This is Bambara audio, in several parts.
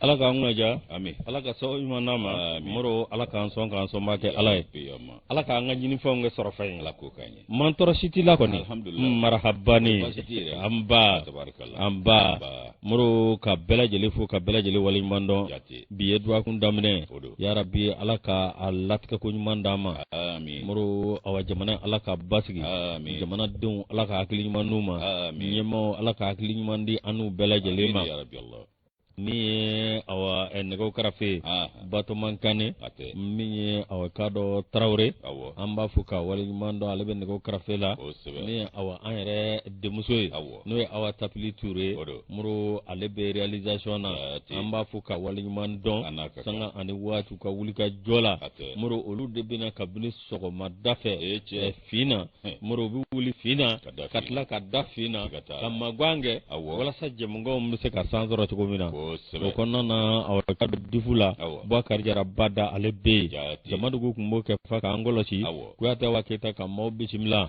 ala k'an kunnaja amin ala ka sabu ɲuman d'a ma moro ala k'an sɔn k'an sɔnbaa kɛ ala ye ala k'an ka ɲinifɛnw kɛ sɔrɔfɛn ye ala k'o k'an ye mantɔɔrɔ si t'i la kɔni marahabani an ba an ba moro ka bɛɛ lajɛlen fo ka bɛɛ lajɛlen waleɲuman dɔn bi ye dɔgɔkun daminɛ ya rabi ala ka a latigɛko ɲuman d'a ma moro awa jamana ala ka basigi jamanadenw ala ka hakili ɲuman d'u ma ɲɛmaaw ala ka hakili ɲuman di an n'u bɛɛ lajɛlen ma min ye awa eh, nɛgɛw karafe ah, ah. batoman kane min ye awa k'a dɔn tarawure an b'a fo ka waleɲuman dɔn ale bɛ nɛgɛw karafe la min ye awa an yɛrɛ denmuso ye n'o ye awa tapili ture ye moro ale bɛ realisation na an b'a fo ka waleɲuman dɔn sanga ani waati ka wulikajɔ la moro olu de bɛ na kabini sɔgɔmada fɛ eh, fin na moro u bɛ wuli fin na ka tila ka da fin na ka magan kɛ walasa jɛmukan bɛ se ka san sɔrɔ cogo min na o kɔnɔna na awa ka bɛ difu la bubakari jara bada ale bɛ yen jamadugu tun b'o kɛ fa k'an kɔlɔsi kuyatɛ awa keyita ka maaw bisimila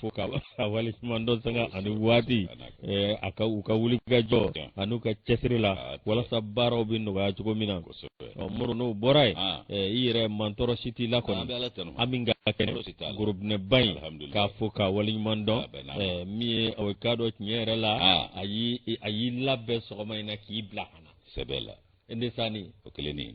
fo ka a waleɲuman dɔn sanga ani waati eh, a ka u ka wulikajɔ an'u ka cɛsiri la walasa baaraw bɛ nɔgɔya cogo min na ɔ muru n'o bɔra yen ah. eh, i yɛrɛ mantɔrɔ si t'i la kɔni an min ka kɛnɛ gorobinɛba in k'a fo ka waleɲuman dɔn eh, min ye aw k'a dɔn tiɲɛ yɛrɛ la ah. a y'i a y'i labɛn sɔgɔma in na k'i bila ka na sɛbɛ la ndesani o kelen ni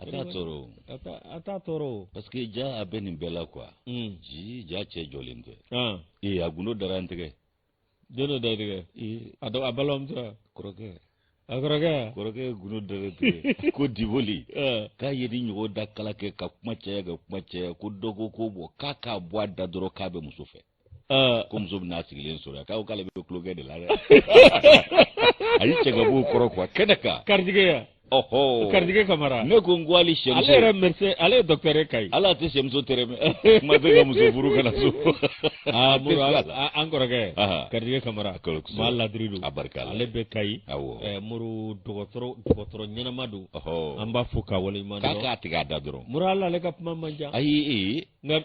a t'a tɔɔrɔ a t'a tɔɔrɔ parce que ja a bɛ nin bɛɛ la quoi hmm. ji ja cɛ jɔlen tɛ ee a gundo dara n tɛgɛ don dɔ da i tɛgɛ a dɔ a balamuso kɔrɔkɛ a kɔrɔkɛ kɔrɔkɛ gundo dara tɛgɛ ko diboli k'a ye ni ɲɔgɔn da kala kɛ ka kuma caya ka kuma caya ko dɔgɔ ko bɔ k'a k'a bɔ a da dɔrɔn k'a bɛ muso fɛ ko muso bɛna sigilen sɔrɔ k'aw k'ale bɛ tulonkɛ de la dɛ a y'i cɛ ka b'o kɔrɔ quoi kɛnɛ kan karijigɛ yan ɔhɔ karijigɛ kamara ne ko n ko hali sɛmuso ale yɛrɛ mɛrɛsɛ ale ye dɔkitɛri kayi ala tɛ sɛmuso tɛrɛ mɛ kuma tɛ ka muso furu ka na so aa muru an kɔrɔkɛ karijigɛ kamara maa ladiri don a barika ale bɛ kayi awɔ muru dɔgɔtɔrɔ dɔgɔtɔrɔ ɲɛnama don ɔhɔ an b'a fo k'a waleɲuman dɔn k'a k'a tigɛ a da dɔrɔn muru ala ale ka kuma man ca ayi ee nka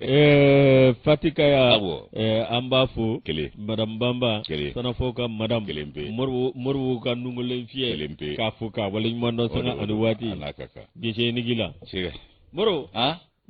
Eh, fatika ya eh, an b'a fo madamu banba sana fo ka madamu moribu ka nungolen fiyɛ k'a fo k'a waleɲuman dɔn sanga ani waati gese nigi la moro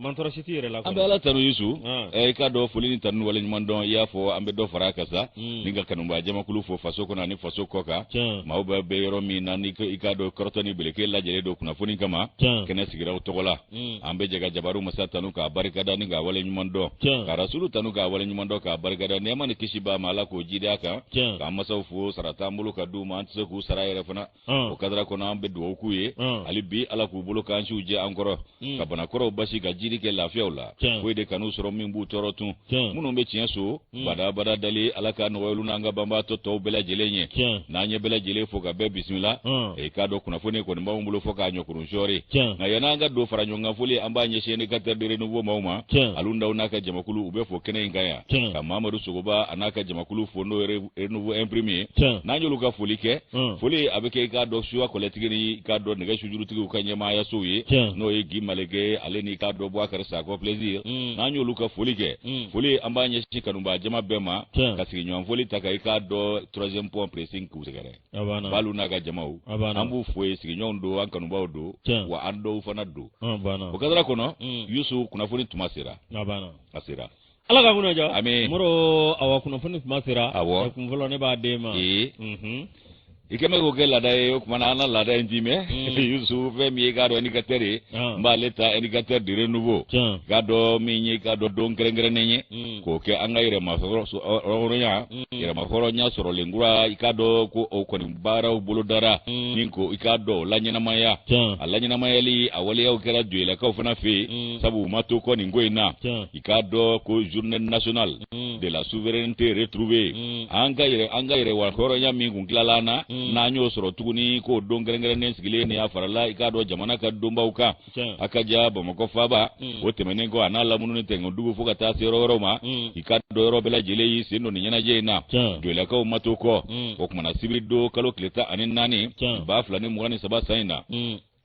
mantɔrɔ si t'i yɛrɛ la an bɛ ala tanu yusu eh, i k'a dɔn foli ni tanu waleɲuman dɔn i y'a fɔ an bɛ dɔ fara a kan sa hmm. nin ka kanubaa jamakulu fo faso kɔnɔ ani faso kɔkan maaw bɛɛ bɛ yɔrɔ min na ni i k'a dɔn kɔrɔtɔ ni beleke lajɛlen don kunnafoni kama kɛnɛ sigira u tɔgɔ la hmm. an bɛ jɛ ka jabaru masa tanu k'a barikada ni k'a wale ɲuman dɔn ka rasulu tanu k'a wale ɲuman dɔn k'a barikada nɛɛma ni kisi b'a ma ala k'o jidi a kan k'an masaw fo sara t'an bolo ka d'u ma an tɛ se k'u sara yɛrɛ fana hmm. o kadara kɔnɔ an bɛ dugawu k'u ye hmm. hali bi ala k'u bolokan siw jɛ an kɔrɔ ka bana kɔrɔw basi ka jiri kɛ lafiya la foyi de kan'u sɔrɔ min b'u tɔɔrɔ tun minnu bɛ tiɲɛ so hmm. badabada dali ala ka nɔgɔy'olu n'an ka banbaatɔ tɔw bɛɛ lajɛlen ye n'an ye bɛɛ lajɛlen fo ka bɛɛ bisimila hmm. i k'a dɔn kunnafoni kɔni b'anw bolo fo k'a ɲɔkurun sɔɔri nka yann'an ka dɔ fara ɲɔgɔn kan foli an b'a ɲɛsin indicateur de renouveau maaw ma alu ndaw n'a ka jamakulu u bɛɛ fo kɛnɛ in kan yan ka mamadu sogoba a n'a ka jamakulu fo n'o ye re nouveau imprimé ye Tiɲɛ. n'an y'olu ka foli kɛ Mm. foli a bɛ kɛ i k'a dɔn suya kɔlɛtigi ni i k'a dɔn nɛgɛ sujurutigiw ka ɲɛmaayaso ye Tiɲɛ. n'o ye gi maleke ale ni i k'a dɔn buwakari sakɔ plaisir Mm. n'an y'olu ka foli kɛ Mm. foli an b'a ɲɛsin kanubaa jama bɛɛ ma Tiɲɛ. ka sigiɲɔgɔn foli ta ka i k'a dɔn troisième pont pressing k'u sɛgɛrɛ a b'a na baalu n'a ka jamaw A b'a na. an b'u fo ye sigiɲɔgɔnw don an kanubaaw don Tiɲɛ. wa an dɔw fana don a b'a na o kadara kɔnɔ Mm. yusu kunnafoni tuma sera a b'a na a sera ala ka kunna jɔ ami mɔrɔ awa kunnafoni kuma sera awɔ kun fɔlɔ ne b'a d'e ma ee i kɛ mɛ k'o kɛ laada ye o kumana an ka laada in d'i mɛ yusu fɛn min ye k'a dɔn indicateur ye n b'ale ta indicateur de renouveau k'a dɔn min ye k'a dɔn don kɛrɛnkɛrɛnnen ye k'o kɛ an ka yɛrɛmahɔrɔnya yɛrɛmahɔrɔnya sɔrɔlen kura i k'a dɔn ko o kɔni baaraw bolodara min ko i k'a dɔn o laɲɛnamaya a laɲɛnamayali a waleyaw kɛra joyilakaw fana fɛ yen sabu u ma to kɔ nin ko in na i k'a dɔn ko journée nationale mm. de la souveraineté retrouvée mm. an ka yɛrɛmahɔrɔnya min kun tilala an na mm. n'an y'o sɔrɔ tuguni k'o don kɛrɛnkɛrɛnnen sigilen ni a farala i k'a dɔn jamana ka donbaw kan a ka ja bamakɔ faaba o tɛmɛnen kɔ a n'a lamununi tɛŋɛ dugu fo ka taa se yɔrɔ wɛrɛw ma i k'a dɔn yɔrɔ bɛɛ lajɛlen y'i sen don nin ɲɛnajɛ in na joyilakaw ma to kɔ o kumana sibiri don kalo tile tan ani naani baa fila ni mugan ni saba san in na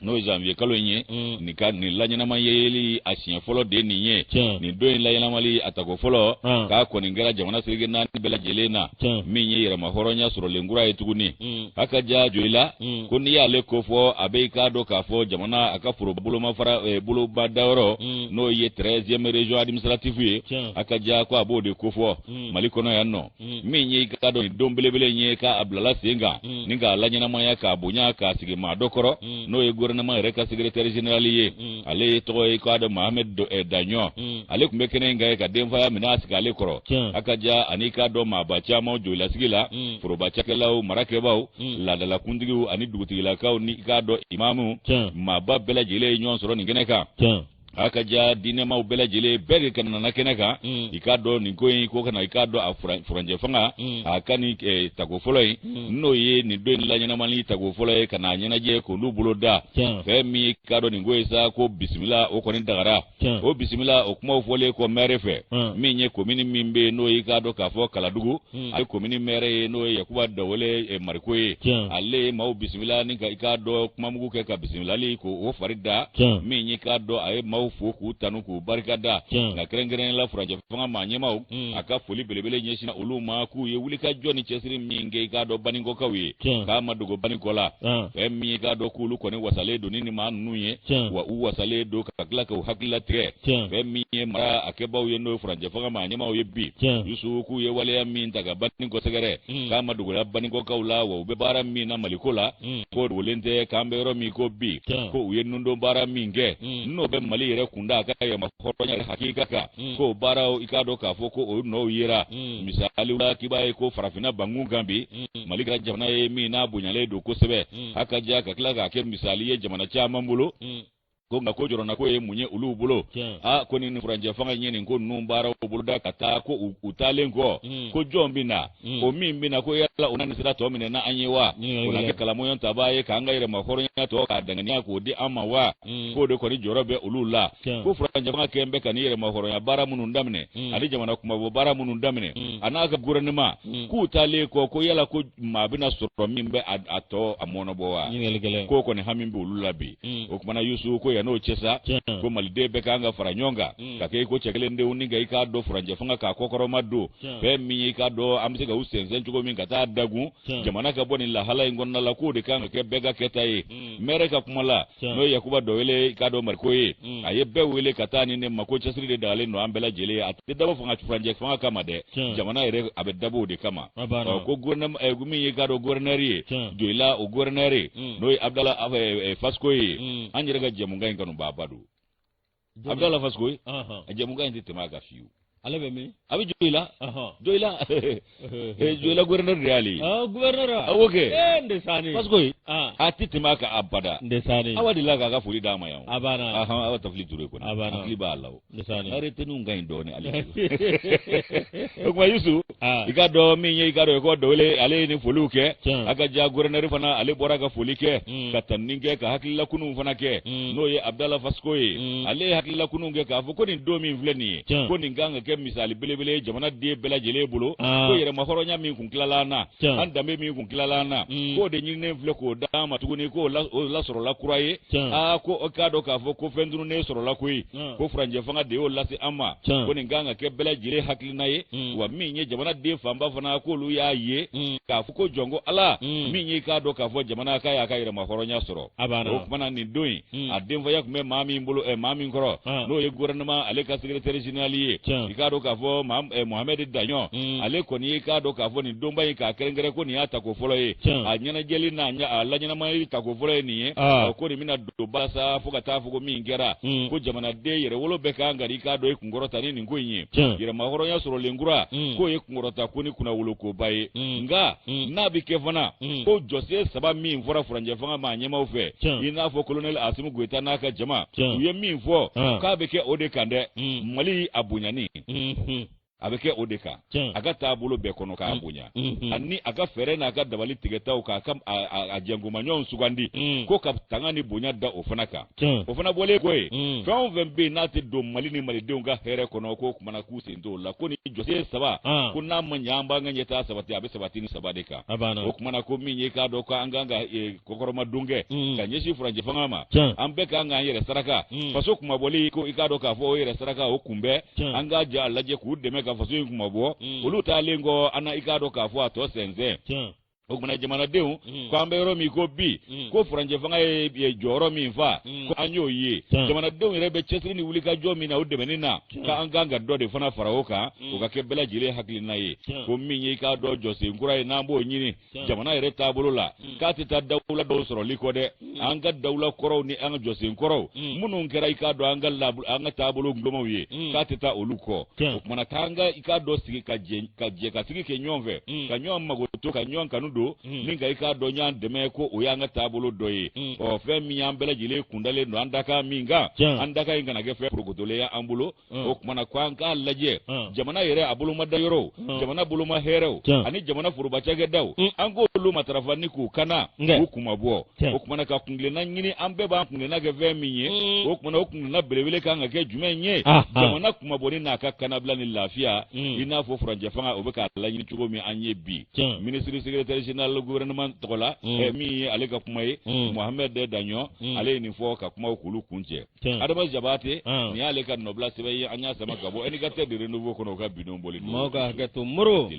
n'o ye janvier kalo in ye mm. nin laɲɛnamayali a siɲɛ fɔlɔ de nin ye nin don in laɲɛnamali a tako fɔlɔ ah. k'a kɔni kɛra jamana seleke naani bɛɛ lajɛlen na min ye yɛrɛmahɔrɔnya sɔrɔlen kura ye tuguni mm. a ka ja joyila mm. ko n'i y'ale kofɔ a bɛ i k'a dɔn k'a fɔ jamana a ka foro bolomafara eh, boloba dayɔrɔ n'o ye treizième région administrative ye a ka ja ko a b'o de kofɔ mali kɔnɔ yan nɔ Hmm. min ye i k'a dɔn nin don belebele in ye k'a bilala sen kan hmm. ni k'a laɲɛnamaya k'a bonya k'a sigi maa dɔ kɔrɔ hmm. n'o ye gouvernement yɛrɛ ka secrétaire général ye ale ye tɔgɔ ye k'a dɔn mohamed eh, daɲɔ ale tun bɛ kɛnɛ in kan yen ka denfaya minɛ a sigi ale kɔrɔ a ka ja ani k'a dɔn maaba caman joyila sigi la foroba cakɛlaw marakɛbaaw laadala kuntigiw ani dugutigilakaw ni k'a dɔn imamu maaba bɛɛ lajɛlen ye ɲɔgɔn sɔrɔ nin kɛnɛ kan a ka ja diinɛmaw bɛɛ lajɛlen bɛɛ de ka nana kɛnɛ kan mm. i k'a dɔn nin ko in ko kana i k'a dɔn a furanjɛ fanga mm. a ka nin eh, tako fɔlɔ ye mm. n'o ye nin don in laɲɛnamani tako fɔlɔ ye ka n'a ɲɛnajɛ k'olu boloda fɛn min ye k'a dɔn nin ko ye sa ko bisimila o kɔni dagara o bisimila o kumaw fɔlen kɔ mɛre fɛ min ye komini min bɛ yen n'o ye k'a dɔn k'a fɔ kaladugu Hmm. a ye komini mɛrɛ ye n'o ye yakuba dɔwele eh, mariko ye ale ye maaw bisimila ni ka i k'a dɔn kumamugu kɛ ka bisimilali ko o fari da min ye k'a dɔn a ye maaw fo k'u tanu k'u barikada nka kɛrɛnkɛrɛn la furanjɛ fanga maa ɲɛmaw hmm. a ka foli belebele ɲɛsina olu ma k'u ye wulikajɔ ni cɛsiri min kɛ i k'a dɔn baninkɔkaw ye k'a ma dogo baninkɔ la fɛn min ye k'a dɔn k'olu kɔni wasalen don ni nin maa ninnu ye wa u wasalen don ka tila k'u hakili latigɛ fɛn min ye mara a kɛbaaw ye n'o ye furanjɛ fanga maa ɲɛmaaw ye bi yusu k'u ye waleya min ta ka baninkɔ sɛgɛrɛ mm. k'a ma dogola baninkɔkaw la wa u bɛ baara min na maliko la mm. k'o dogolen tɛ k'an bɛ yɔrɔ min ko bi ko u ye nundon baara min kɛ mm. n'o bɛ mali yɛrɛ kunda a ka yɛrɛma hɔrɔnya yɛrɛ hakika kan k'o baaraw i k'a dɔn k'a fɔ ko o nɔw yera misaliw la k'i b'a ye ko farafinna bankun kan bi mali kɛra jamana ye min n'a bonyalen don kosɛbɛ a ka ja ka tila k'a kɛ misali ye jamana caman bolo ko nka ko jɔrɔnanko ye mun ye olu bolo a ko ni furanjɛ fanga ye nin ko ninnu baaraw boloda ka taa ko u taalen kɔ hmm. ko jɔn bɛ na hmm. o min bɛ na ko yala o na nin sira tɔ minɛ na an ye wa o na kɛ kalamɔɲɔ tabaa ye k'an ka yɛrɛma hɔrɔnya tɔ k'a danganiya k'o di an ma wa hmm. k'o de kɔni jɔrɔ bɛ olu la ko furanjɛ fanga kɛn bɛ ka nin yɛrɛma hɔrɔnya baara minnu daminɛ ani jamana kunmabɔ baara minnu daminɛ a n'a ka gouvernement k'u taalen kɔ ko yala ko maa bɛna sɔrɔ min bɛ a tɔ a mɔnɔbɔ wa k'o kɔni hami bɛ olu la bi mm. o tuma na yusu ko yan n'o cɛ sa ko maliden bɛɛ k'an ka fara ɲɔgɔn kan mm. ka kɛ i ko cɛ kelen denw ni ka i k'a dɔn furanjɛ fanga k'a kɔkɔrɔmadon fɛn min y'i k'a dɔn an bɛ se ka u sɛnsɛn cogo min ka taa dagun jamana ka bɔ nin lahala in kɔnɔna la k'o de kan ka kɛ bɛɛ ka kɛta ye mm. mɛrɛ ka kuma la n'o ye yakuba dɔwele k'a dɔn mariko ye mm. a ye bɛɛ wele ka taa ni ne ma ko cɛsiri de dagalen don an bɛɛ lajɛlen a tɛ dabɔ furanjɛ fanga kama dɛ jamana yɛrɛ a bɛ dabɔ o de kama ko eh, min ye k'a dɔn gouverneur ye joyila o gouverneur mm. n'o ye abudala eh, eh, faskoyi an yɛrɛ ka jɛmukan in kanubaaba don abudala faskoyi a jɛmukan in tɛ tɛmɛ a kan fiyewu ale bɛ min a bɛ joyila joyila joyila gouverneur de y'ale ye gouverneur awɔ kɛ ee ndesani parce que a tɛ tɛmɛ a kan abada ndesani awa delila k'a ka foli d'a ma yan a banna ahan awa tafili ture kɔni hakili b'a la o ndesani ariteniw ka ɲi dɔɔnin ale o tuma Yusu Ah. i k'a dɔn min ye i k'a dɔn ko dawele ale ye nin foliw kɛ Tiɲɛ. a ka ja guvɛrɛnɛri fana ale bɔra ka foli kɛ Mm. ka tanuni kɛ ka hakililakununw fana kɛ Mm. n'o ye abudala fasikoye Mm. ale ye hakililakununw kɛ k'a fɔ ko nin don min filɛ nin ye Tiɲɛ. ko nin kan ka kɛ misali belebele ye jamana den bɛɛ lajɛlen bolo Ah. ko yɛrɛmahɔrɔnya min kun tilala an na Tiɲɛ. an danbe min kun tilala an na Mm. k'o de ɲininen filɛ k'o d'an ma tuguni k'o la- o lasɔrɔla kura ye Tiɲɛ. aa ko o k'a dɔn k'a fɔ ko fɛn tununnen sɔrɔla koyi Ah. ko furancɛ fanga de y'o lase an ma Tiɲɛ. ko nin kan ka kɛ bɛɛ lajɛlen hakili hakilina ye mm. wa min ye jamana den fanba fana k'olu y'a ye mm. k'a fɔ ko jɔn ko ala mm. min y'i k'a dɔn k'a fɔ jamana k'a y'a ka yɛrɛmahɔrɔnya sɔrɔ o kumana nin don in mm. a denfaya tun bɛ maa min bolo eh, maa min kɔrɔ ah. n'o ye gouvernement ale ka secrétaire général ye i k'a dɔn k'a fɔ eh, mohamɛdi daɲɔ mm. ale kɔni y'i k'a dɔn k'a fɔ nin donba in k'a kɛrɛnkɛrɛn ko nin y'a tako fɔlɔ ye a ɲɛnajɛli n'a a laɲɛnamayali tako fɔlɔ ye nin ye ah. ko nin bɛna don basa fo ka taa fɔ ko min kɛra mm. ko jamanaden yɛrɛwolo bɛɛ kan ka i k'a dɔn kunkɔrɔta ni nin ko in ye yɛrɛmahɔrɔnya sɔrɔlen kura mm. k'o ye kunkɔrɔta ko ni kunnawolokoba ye mm. nka mm. n'a bɛ kɛ fana ko jɔsen saba min fɔra furancɛ fanga ma a ɲɛmaaw fɛ i n'a fɔ kolonɛli asimu goyita n'a ka jama u ye min fɔ k'a bɛ kɛ o de kan dɛ mali a bonyani mm-hmm. a bɛ kɛ o de kan a ka taabolo bɛɛ kɔnɔ k'a mm. bonya mm-hmm. ani a ka fɛɛrɛ n'a ka dabali tigɛtaw k'a ka a jɛnkomaɲɔgɔnw sugandi mm. ko ka tanga ni bonya da o fana kan o fana bɔlen kɔ yen mm. fɛn o fɛn bɛ yen n'a tɛ don mali ni malidenw ka hɛrɛ kɔnɔ ko kumana k'u sen t'o la ko nin jɔsen saba ah. ko n'a ma ɲɛ an b'an ka ɲɛtaa sabati a bɛ sabati nin saba de kan o kumana ko min ye k'a dɔn ko an kan ka e, kɔkɔrɔmadon kɛ mm. ka ɲɛsin furancɛ fanga ma an bɛɛ kan k'an yɛrɛ saraka mm. faso kunmabɔli ko i k'a dɔn k'a fɔ o yɛrɛ saraka o kunbɛn an k'a ja lajɛ k'u dɛmɛ ka faso in kunmabɔ mm. olu taalen kɔ an na i k'a dɔn k'a fɔ a tɔ sɛnsɛn o kumana jamanadenw mm. ko an bɛ yɔrɔ min ko bi mm. ko furancɛ fanga ye jɔyɔrɔ min fa mm. ko an y'o ye jamanadenw yɛrɛ bɛ cɛsiri ni wulikajɔ min na o dɛmɛni na k'an kan ka dɔ de fana fara o kan o ka kɛ bɛɛ lajɛlen hakilina ye ko min ye i k'a dɔn jɔsen kura ye n'an b'o ɲini jamana yɛrɛ taabolo la hmm. k'a tɛ taa dawula dɔw sɔrɔli kɔ dɛ hmm. an ka dawula kɔrɔw ni an ka jɔsen kɔrɔw hmm. minnu kɛra i k'a dɔn an ka an ka taabolo gulɔmaw ye k'a tɛ taa olu kɔ o kumana k'an ka i k'a dɔn sigi ka jɛ ka jɛ ka sigi kɛ ɲɔgɔn fɛ ka ɲɔgɔn makoto ka ɲɔgɔn kanu don ni ka i k'a dɔn ɲɔgɔn dɛmɛ ko o y'an ka taabolo dɔ ye ɔ fɛn min y'an bɛɛ lajɛlen kun dalen don an dakan min kan an dakan in kana kɛ fɛn porokotolen ye an bolo Mm. o kumana ko an k'a lajɛ mm. jamana yɛrɛ a bolomada yɔrɔw mm. jamana boloma hɛrɛw ani jamana foroba cakɛdaw an k'olu matarafa ni k'u kana k'u kunmabɔ o kumana ka kungilenna ɲini an bɛɛ b'an kungilenna kɛ fɛn min ye o kumana o kungilenna belebele kan ka kɛ jumɛn ye ah, ah. jamana kunmabɔni n'a ka kanabila ni lafiya i n'a fɔ furancɛ fanga o bɛ k'a laɲini cogo min an ye bi ministre secrétaire général gouvernement tɔgɔ la eh, min ye ale ka kuma ye mohamɛd daɲɔ ale ye nin fɔ ka kumaw k'olu kuncɛ adama jabate nin y'ale ka nɔbila sɛbɛn ye an y'a sama ka bɔ indicateur du renouveau kɔnɔ o ka bi don bɔli maaw ka hakɛ to moro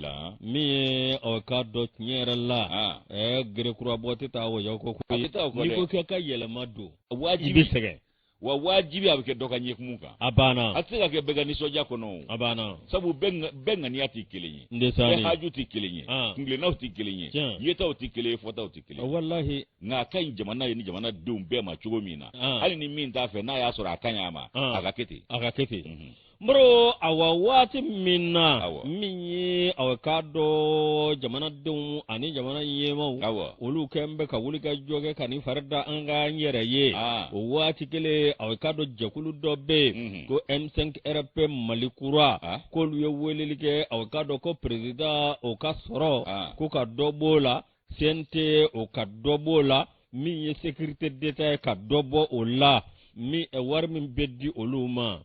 min ye aw k'a dɔn tiɲɛ yɛrɛ la ɛɛ gerekurabɔ tɛ taa wɔyɔ kɔ ko ye n'i ko k'i ka yɛlɛma don i bɛ sɛgɛn wa wajibi a bɛ kɛ dɔ ka ɲɛkumu kan a banna a tɛ se ka kɛ bɛɛ ka nisɔndiya kɔnɔ o a banna sabu bɛɛ ŋaniya tɛ kelen ye bɛɛ haju tɛ kelen ye kuntilennaw tɛ kelen ye yetaw tɛ kelen ye fɔtaw tɛ kelen ye walahi nka a ka ɲi jamana ye ni jamana denw bɛɛ ma cogo min na ah. hali ni min t'a fɛ n'a y'a sɔrɔ a ka ɲi a ma ah. a ka kɛ ten a ka kɛ ten mhm. moro awa waati min na min ye a bɛ k'a dɔn jamanadenw ani jamana ɲɛmaw olu kɔni bɛ ka wuli ka jɔ kɛ ka nin fari da an k'an yɛrɛ ye ah. o waati kelen a bɛ k'a dɔn jɛkulu dɔ bɛ yen mhm. ko m5 rfp mali kura k'olu ye weleli kɛ a bɛ k'a dɔn ko perezidan o ka sɔrɔ ko ka dɔ b'o la cnt o ka dɔ b'o la min ye sécurité d'état ye ka dɔ bɔ o la min eh, wari min bɛ di olu ma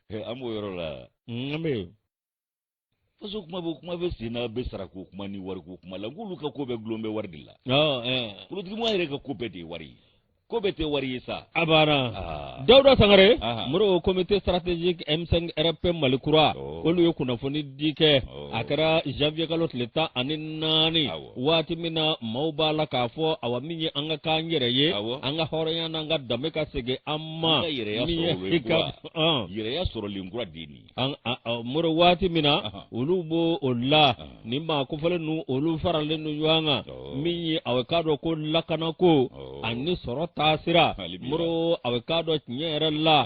eh, an b'o yɔrɔ la mm, an bɛ faso kuma bɛ kuma bɛ sen na bɛ sarako kuma ni wariko kuma la n k'olu ka ko bɛɛ gulon bɛ wari de la ah, eh. politikimɔgɔ yɛrɛ ka ko bɛɛ de ye wari ye ko bɛɛ tɛ wari ye sa a banna ah. dawuda sangare ah. moro comité stratégique m5 rfp mali kura oh. olu ye kunnafoni di kɛ oh. a kɛra janvier kalo tile tan ani naani waati min na maaw b'a la k'a fɔ awa min ye an ka k'an yɛrɛ ye an ka hɔrɔnya n'an ka danbe ka segin an ma min ye i ka yɛrɛya sɔrɔlen kura de nin moro waati min na olu b'o o la ni maa kofɔlen ninnu olu faralen don ɲɔgɔn kan min ye a bɛ k'a dɔn ko lakana ko ani sɔrɔ taasira moro a bɛ k'a dɔn tiɲɛ yɛrɛ la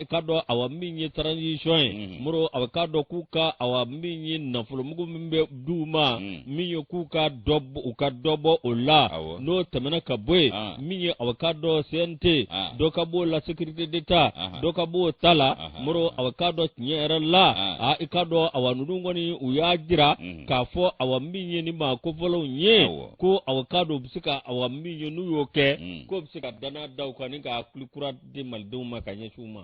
i k'a dɔn awa min ye transition ye moro a bɛ k'a dɔn k'u ka awa min ye nafolomugu min bɛ d'u ma min ye k'u ka u ka dɔ bɔ o la n'o tɛmɛna ka bɔ yen min ye aw k'a dɔn cnt dɔ ka b'o la sécurité d'état dɔ ka b'o ta la moro aw k'a dɔn tiɲɛ yɛrɛ la a i k'a dɔn awa ninnu kɔni u y'a jira k'a fɔ awa min ye nin maa kofɔlenw ye ko aw k'a dɔn u bɛ se ka awa min ye n'u y'o kɛ k'o bɛ se ka dannaya da u kan ni ka hakili kura di malidenw ma ka ɲɛsin u ma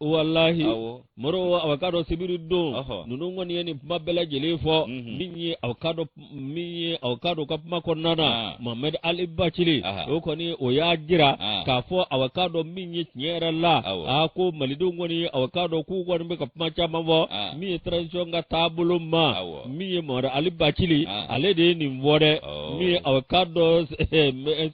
walahi moro aw k'a dɔn sibiri don ninnu kɔni ye nin kuma bɛɛ lajɛlen fɔ mhm. min ye aw k'a dɔn min ye aw k'a dɔn ka kuma kɔnɔna na ah. mohamed ali bacili o kɔni o y'a jira ah. k'a fɔ aw k'a dɔn min ye tiɲɛ yɛrɛ la a ko malidenw kɔni aw k'a dɔn k'u kɔni bɛ ka kuma caman fɔ ah. min ye transition ka taabolo ma min ye mohamed ali bacili ale de ye nin fɔ dɛ oh. min ye aw k'a dɔn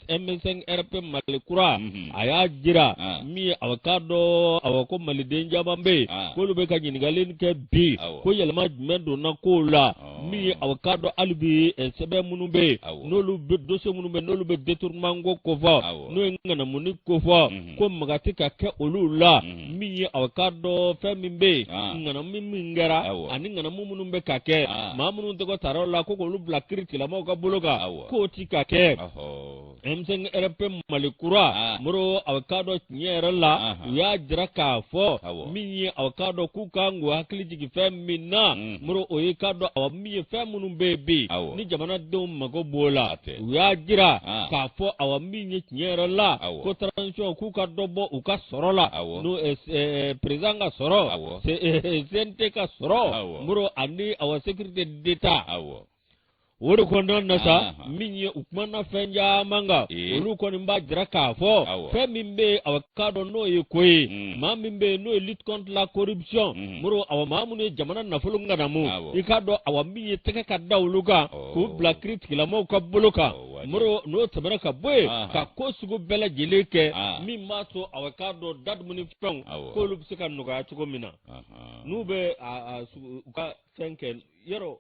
m5 rfp mali kura mhm. a y'a jira ah. min ye a k'a dɔn awa ko maliden caman bɛ yen ah. k'olu bɛ ka ɲininkali kɛ bi ko yɛlɛma jumɛn donna kow la oh. min ye a k'a dɔn hali bi eh, sɛbɛn minnu bɛ yen n'olu bɛ dosiye minnu bɛ n'olu bɛ détournement ko kofɔ n'o ye ŋanamuni kofɔ mhm. ko maga tɛ ka kɛ olu la mhm. min ye a k'a dɔn fɛn min bɛ yen ah. ŋanamu min kɛra ani ŋanamu minnu bɛ ka kɛ maa minnu tɔgɔ tara o la ko k'olu bila kiritigɛlamɔgɔw ka bolo kan k'o ti ka kɛ. m5 rfp mali kura ah. muru a k'a dɔn tiɲɛ yɛrɛ la u y'a jira k'a fɔ min ye a k'a dɔn k'u ka kan k'u hakili jigin fɛn min na mm. muru o ye k'a dɔn awa min ye fɛn minnu bɛ yen bi ni jamanadenw mago b'o la u y'a jira ah. k'a fɔ awa min ye tiɲɛ yɛrɛ la ko transition k'u ka dɔ bɔ u ka sɔrɔ la n'o eh, eh, perezidan ka sɔrɔ cnt eh, ka sɔrɔ muru ani awa sécurité d'état o de kɔnɔ na sa Aha. min ye u kumana fɛn caman kan Ee. olu kɔni b'a jira k'a fɔ Awɔ. fɛn min bɛ yen aw k'a dɔn n'o ye ko ye Mm. maa min bɛ yen n'o ye lutte contre la corruption Mhm. muru awa maa minnu ye jamana nafolo ŋanamu Awɔ. i k'a dɔn awa min ye tɛgɛ ka da olu kan Ɔ. k'u bila kiritigɛlamaaw ka bolo kan Ɔ, waati. muru n'o tɛmɛna ka bɔ yen Aha. ka ko sugu bɛɛ lajɛlen kɛ Ah. min b'a to aw k'a dɔn da dumuni fɛnw Awɔ. k'olu bɛ se ka nɔgɔya cogo min na Ahan. n'u bɛ a- a sugu- u ka fɛn kɛ yɔrɔ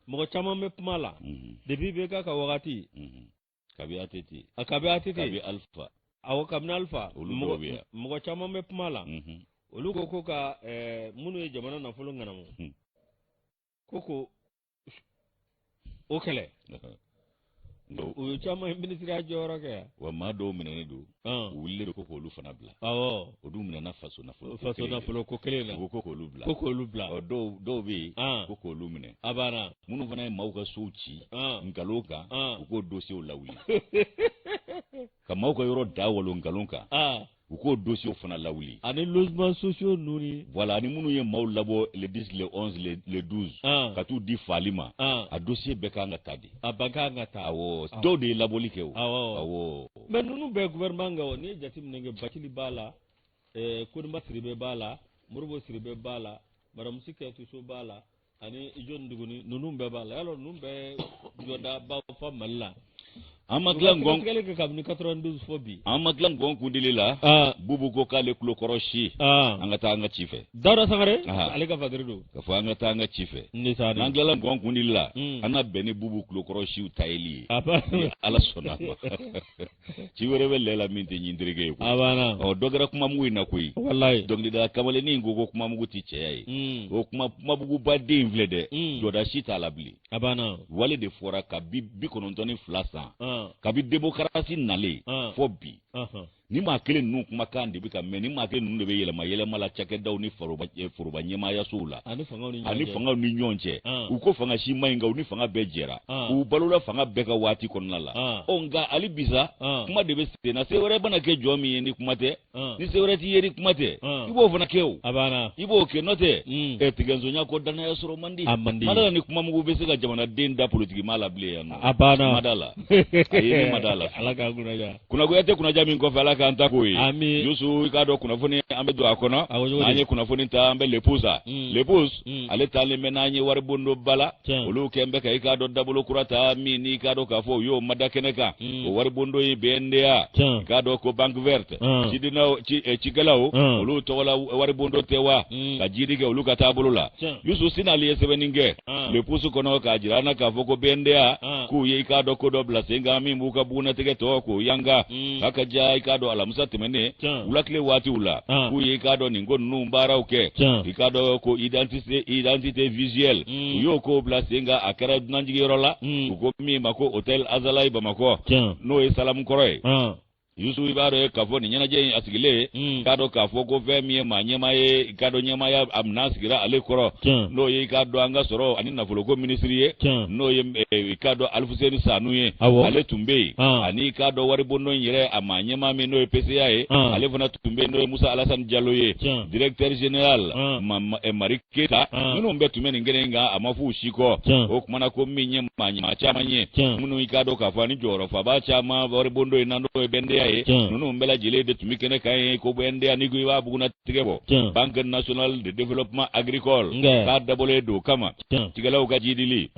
mɔgɔ caman bɛ pouvoir la mhm. depuis ibk ka wagati mhm. kabi att a kabi att kabi alpha awɔ kabini alpha mɔgɔ caman bɛ pouvoir la mhm. olu ko ko ka eh, minnu ye jamana nafolo ŋanamu ko ko o kɛlɛ o ye caman ye minisiriya jɔyɔrɔ kɛ yan wa maa dɔw minɛnen don u wulilen don ko k'olu fana bila awɔ o dun minɛna faso nafolo faso nafolo ko kelen na u ko k'olu bila ko k'olu bila ɔ dɔw dɔw bɛ yen ko k'olu minɛ a banna minnu fana ye maaw ka sow ci nkalon kan u k'o dosiyew lawuli ka maaw ka yɔrɔ da walo nkalon kan u k'o dosiyew fana lawuli ani logement sociaux ninnu ni voilà ani minnu ye maaw labɔ le 10 le 11 le, le 12 ah. ka t'u di faali ma ah. a dosiye bɛɛ ka kan ka ta de a bɛɛ ka kan ka ta awɔ ah. dɔw de ye labɔli kɛ o awɔ mais ninnu bɛ gouvernement kan o n'i ye jateminɛ kɛ bacili b'a la eh, konimba sidibe b'a la modibo sidibe b'a la madamu si kajatu so b'a la ani ijo duguni ninnu bɛɛ b'a la y'a dɔn ninnu bɛɛ jɔdaba fa mali la an ma tila gɔn tigɛli kɛ kabini 92 fɔ bi an ma tila gɔn kundili la ah. bubu ko k'ale tulo kɔrɔ si ah. an ka taa an ka ci fɛ dawuda sangare ah. ale ka fakiri don ka fɔ an ka taa an ka ci fɛ n'an tilala gɔn kundili la hmm. an na bɛn ni bubu tulo kɔrɔ siw tayeli ye ala sɔnn'a ma ci wɛrɛ bɛ lɛ la min tɛ ɲin tereke ye a banna ɔ dɔ kɛra kumamugu in na koyi walayi dɔnkilidala kamalennin in ko ko kumamugu tɛ cɛya ye hmm. o kuma kumamuguba den in filɛ dɛ hmm. jɔda si t'a la bilen a banna wale de fɔra kabi bi kɔnɔntɔn ni fila san ah. kabi demokarasi nalen ah. fɔ bi nin maa kelen ninnu kumakan de bɛ ka mɛn nin maa kelen ninnu de bɛ yɛlɛma yɛlɛma la cakɛdaw ni foroba eh, ɲɛmaayasow la ani fangaw ni ɲɔgɔn cɛ u ko fanga si ma ɲi nka u ni fanga bɛɛ jɛra u balola fanga bɛɛ ka waati kɔnɔna la ɔ nka hali bisa kuma de bɛ sen na se wɛrɛ bɛna kɛ jɔn min ye ni kuma tɛ ni se wɛrɛ t'i ye ni kuma tɛ i b'o fana kɛ o i b'o kɛ n'o tɛ ɛ tigɛnsonya kɔ dannaya sɔrɔ man di ma da ni kumamugu bɛ se ka jamanaden da politikimaa la bilen yan nɔ a banna ma da la a ye ma da la ala k'a kunna kunnagoya tɛ kunnaja min kɔfɛ ala k'an ta k'o ye ami yusu i k'a dɔn kunnafoni an bɛ don a kɔnɔ n'an ye kunnafoni ta an bɛ le pouce mm. le pouce mm. ale taalen bɛ n'an ye waribondoba la olu kɛn bɛ ka i k'a dɔn dabolo kura ta min n'i k'a dɔn k'a fɔ u y'o mada kɛnɛ kan mm. o waribondo ye bnda i k'a dɔn ko banque verte cidinaw eh, cikɛlaw olu tɔgɔla waribondo tɛ wa ka jiidi kɛ olu ka taabolo la yusu sinali ye sɛbɛnni kɛ Ah. le pouce kɔnɔ k'a jira an na k'a fɔ ko bnda ah. k'u ye i k'a dɔn ko dɔ bila sen kan min b'u ka bugunnatigɛ tɔgɔ ko yanga hmm. k'a ka ja i k'a dɔn alamisa tɛmɛnen wulakile waatiw la ah. k'u ye i k'a dɔn nin ko ninnu baaraw kɛ i k'a dɔn ko identité identité visuelle hmm. u y'o kow bila sen kan a kɛra dunanjigiyɔrɔ la hmm. u ko min ma ko hôtel azalayi bamakɔ n'o ye salamu kɔrɔ ye yusu i b'a dɔn k'a fɔ nin ɲɛnajɛ in a sigilen hmm. k'a dɔn k'a fɔ ko fɛn min ye maa ɲɛma ye k'a dɔn ɲɛmaaya a minɛn sigira ale kɔrɔ n'o ye k'a dɔn an ka sɔrɔ ani nafoloko minisiri ye n'o ye eh, k'a dɔn alifuseni sanu ye ale tun bɛ yen ah. ani k'a dɔn waribondon yɛrɛ a maa ɲɛma min n'o ye pca ye ah. ale fana tun bɛ yen n'o ye musa alasani jalo ye directeur général ah. eh, mari keyita ah. ninnu bɛɛ tun bɛ nin kɛnɛ in kan a ma f'u si kɔ o kumana ko min ye maa ɲama caman ye minnu i k'a dɔn k'a fɔ ani jɔyɔrɔfaba caman waribondo in na n'o ye bnda ye ninnu bɛɛ lajɛlen de tun bɛ kɛnɛ kan yen ko bnda n'i ko i b'a bugunnatigɛ bɔ banque nationale de développement agricole k'a dabɔlen don o kama cikɛlaw ka jiidili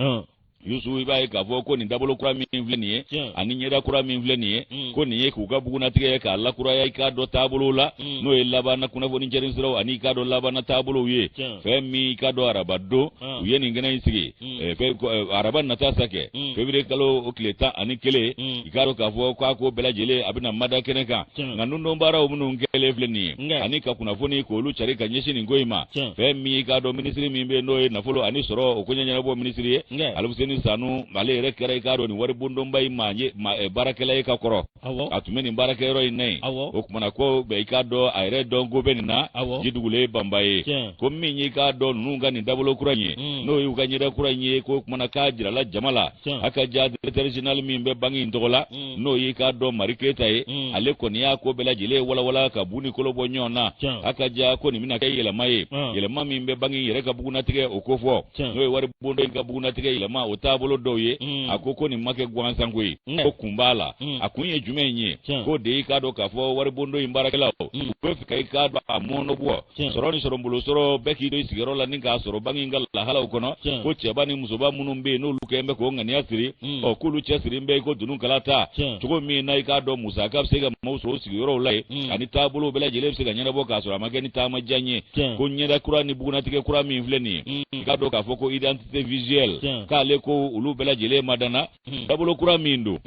yusu i b'a ye k'a fɔ ko nin dabolo kura min filɛ nin ye ani ɲɛda kura min filɛ nin ye mm. ko nin ye k'u ka bugunnatigɛ k'a lakuraya i k'a dɔ taabolow la mm. n'o ye labanna kunnafoni cɛrin siraw ani i k'a dɔ labanna taabolow ye fɛn min i k'a dɔ araba don u ye nin kɛnɛ in sigi mm. eh, eh, araba nata sa kɛ fevrier kalo o kile tan ani kelen i k'a dɔ k'a fɔ k'a ko bɛɛ lajɛlen a bɛna mada kɛnɛ kan nka nundon baaraw minnu kɛlen filɛ nin ye ani ka kunnafoni k'olu cari ka ɲɛsin nin ko in ma fɛn min y'i k'a dɔn minisiri min bɛ n'o ye nafolo ani sɔrɔ o koɲɛ ɲɛnabɔ minisiri ye alifuseni sanu ale yɛrɛ kɛra i k'a dɔn nin waribondonba in maa ye eh, baarakɛla ye ka kɔrɔ a tun bɛ nin baarakɛyɔrɔ in na yen o kumana ko bɛɛ i k'a dɔn a yɛrɛ dɔnko bɛ nin na ji dugulen banba ye ko min y'i k'a dɔn ninnu ka nin dabolo kura in ye hmm. n'o y'u ka ɲɛda kura in ye k'o kumana k'a jirala jama la a ka ja directeur général min bɛ banki in tɔgɔ la hmm. n'o y'i k'a dɔn mari keyita ye mm. ale kɔni y'a ko bɛɛ lajɛlen walawala ka bu ni kolo bɔ ɲɔgɔn na a ka ja ko nin bɛna kɛ yɛlɛma ye ah. yɛlɛma min bɛ banki yɛrɛ ka bugunnatigɛ o kofɔ n'o ye waribondo in ka bugunnatigɛ yɛlɛma o taabolo dɔw ye mm. a ko ko nin ma kɛ gansan ko ye mm. ko kun b'a la a kun ye jumɛn ye k'o de y'i k'a dɔn k'a fɔ waribondo in baarakɛlaw u bɛ fɛ ka i k'a dɔn a mɔnɔbɔ tiɲɛ sɔrɔ ni sɔrɔbolo sɔrɔ bɛɛ k'i to i sigiyɔrɔ la ni k'a sɔrɔ banki in ka lahalaw kɔnɔ ko cɛba ni musoba minnu bɛ yen n'olu kɛlen bɛ k'o ŋaniya siri hmm. ɔ k'olu cɛ sirilen bɛ i ko dununkala ta cogo min na i k'a dɔn musaka bɛ se ka maaw sɔrɔ sigiyɔrɔw la yen hmm. ani taabolow bɛɛ lajɛlen bɛ se ka ɲɛnabɔ k'a sɔrɔ a ma kɛ ni taama jan ye ko ɲɛda kura ni bugunnatigɛ kura min filɛ nin ye hmm. i k'a dɔn k'a fɔ ko identité visuelle k'ale ko olu bɛɛ lajɛlen madana dabolo kura min don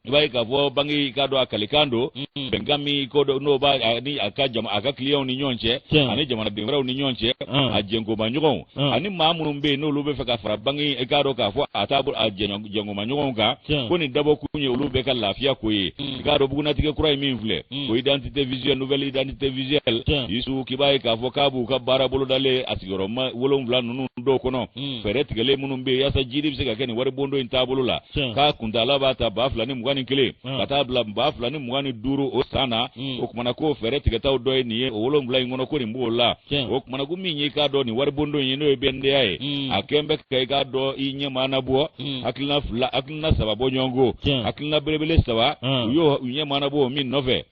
i b'a ye k'a fɔ banki i k'a dɔn a kalikan don mm. bɛnkan min ko n'o b'a ni a ka jama a ka kiliyanw ni ɲɔgɔn cɛ ani jamanaden wɛrɛw ni ɲɔgɔn cɛ mm. a jɛnkomaɲɔgɔnw mm. ani maa minnu bɛ yen n'olu bɛ fɛ ka fara banki i k'a dɔn k'a fɔ a taabolo a jɛnkomaɲɔgɔnw kan ko nin dabɔkun ye olu bɛɛ ka lafiya ko ye i k'a dɔn bugunnatigɛ kura in min filɛ ko identité visuelle nouvelle identité visuelle Yusu k'i b'a ye k'a fɔ k'a b'u ka baara bolodalen a sigiyɔrɔma wolonwula ninnu dɔw kɔnɔ hmm. fɛɛrɛ tigɛlen minnu bɛ yen yasa jiidi bɛ se ka kɛ nin waribondo in taabolo la k'a kuntaala b'a ta ba fila ni mugan ni kelen ka taa bila ba fila ni mugan ni duuru o san na hmm. o kumana k'o fɛɛrɛ tigɛtaw dɔ ye nin ye o wolonwula in kɔnɔ ko nin b'o la o kumana ko min y'i k'a dɔn nin waribondo in ye n'o ye BNDA ye hmm. a kɛn bɛ ka i k'a dɔn i ɲɛma anabɔ hakilina fila hakilina saba bɔ ɲɔgɔn ko hakilina belebele saba u y'o ɲɛma anabɔ min nɔfɛ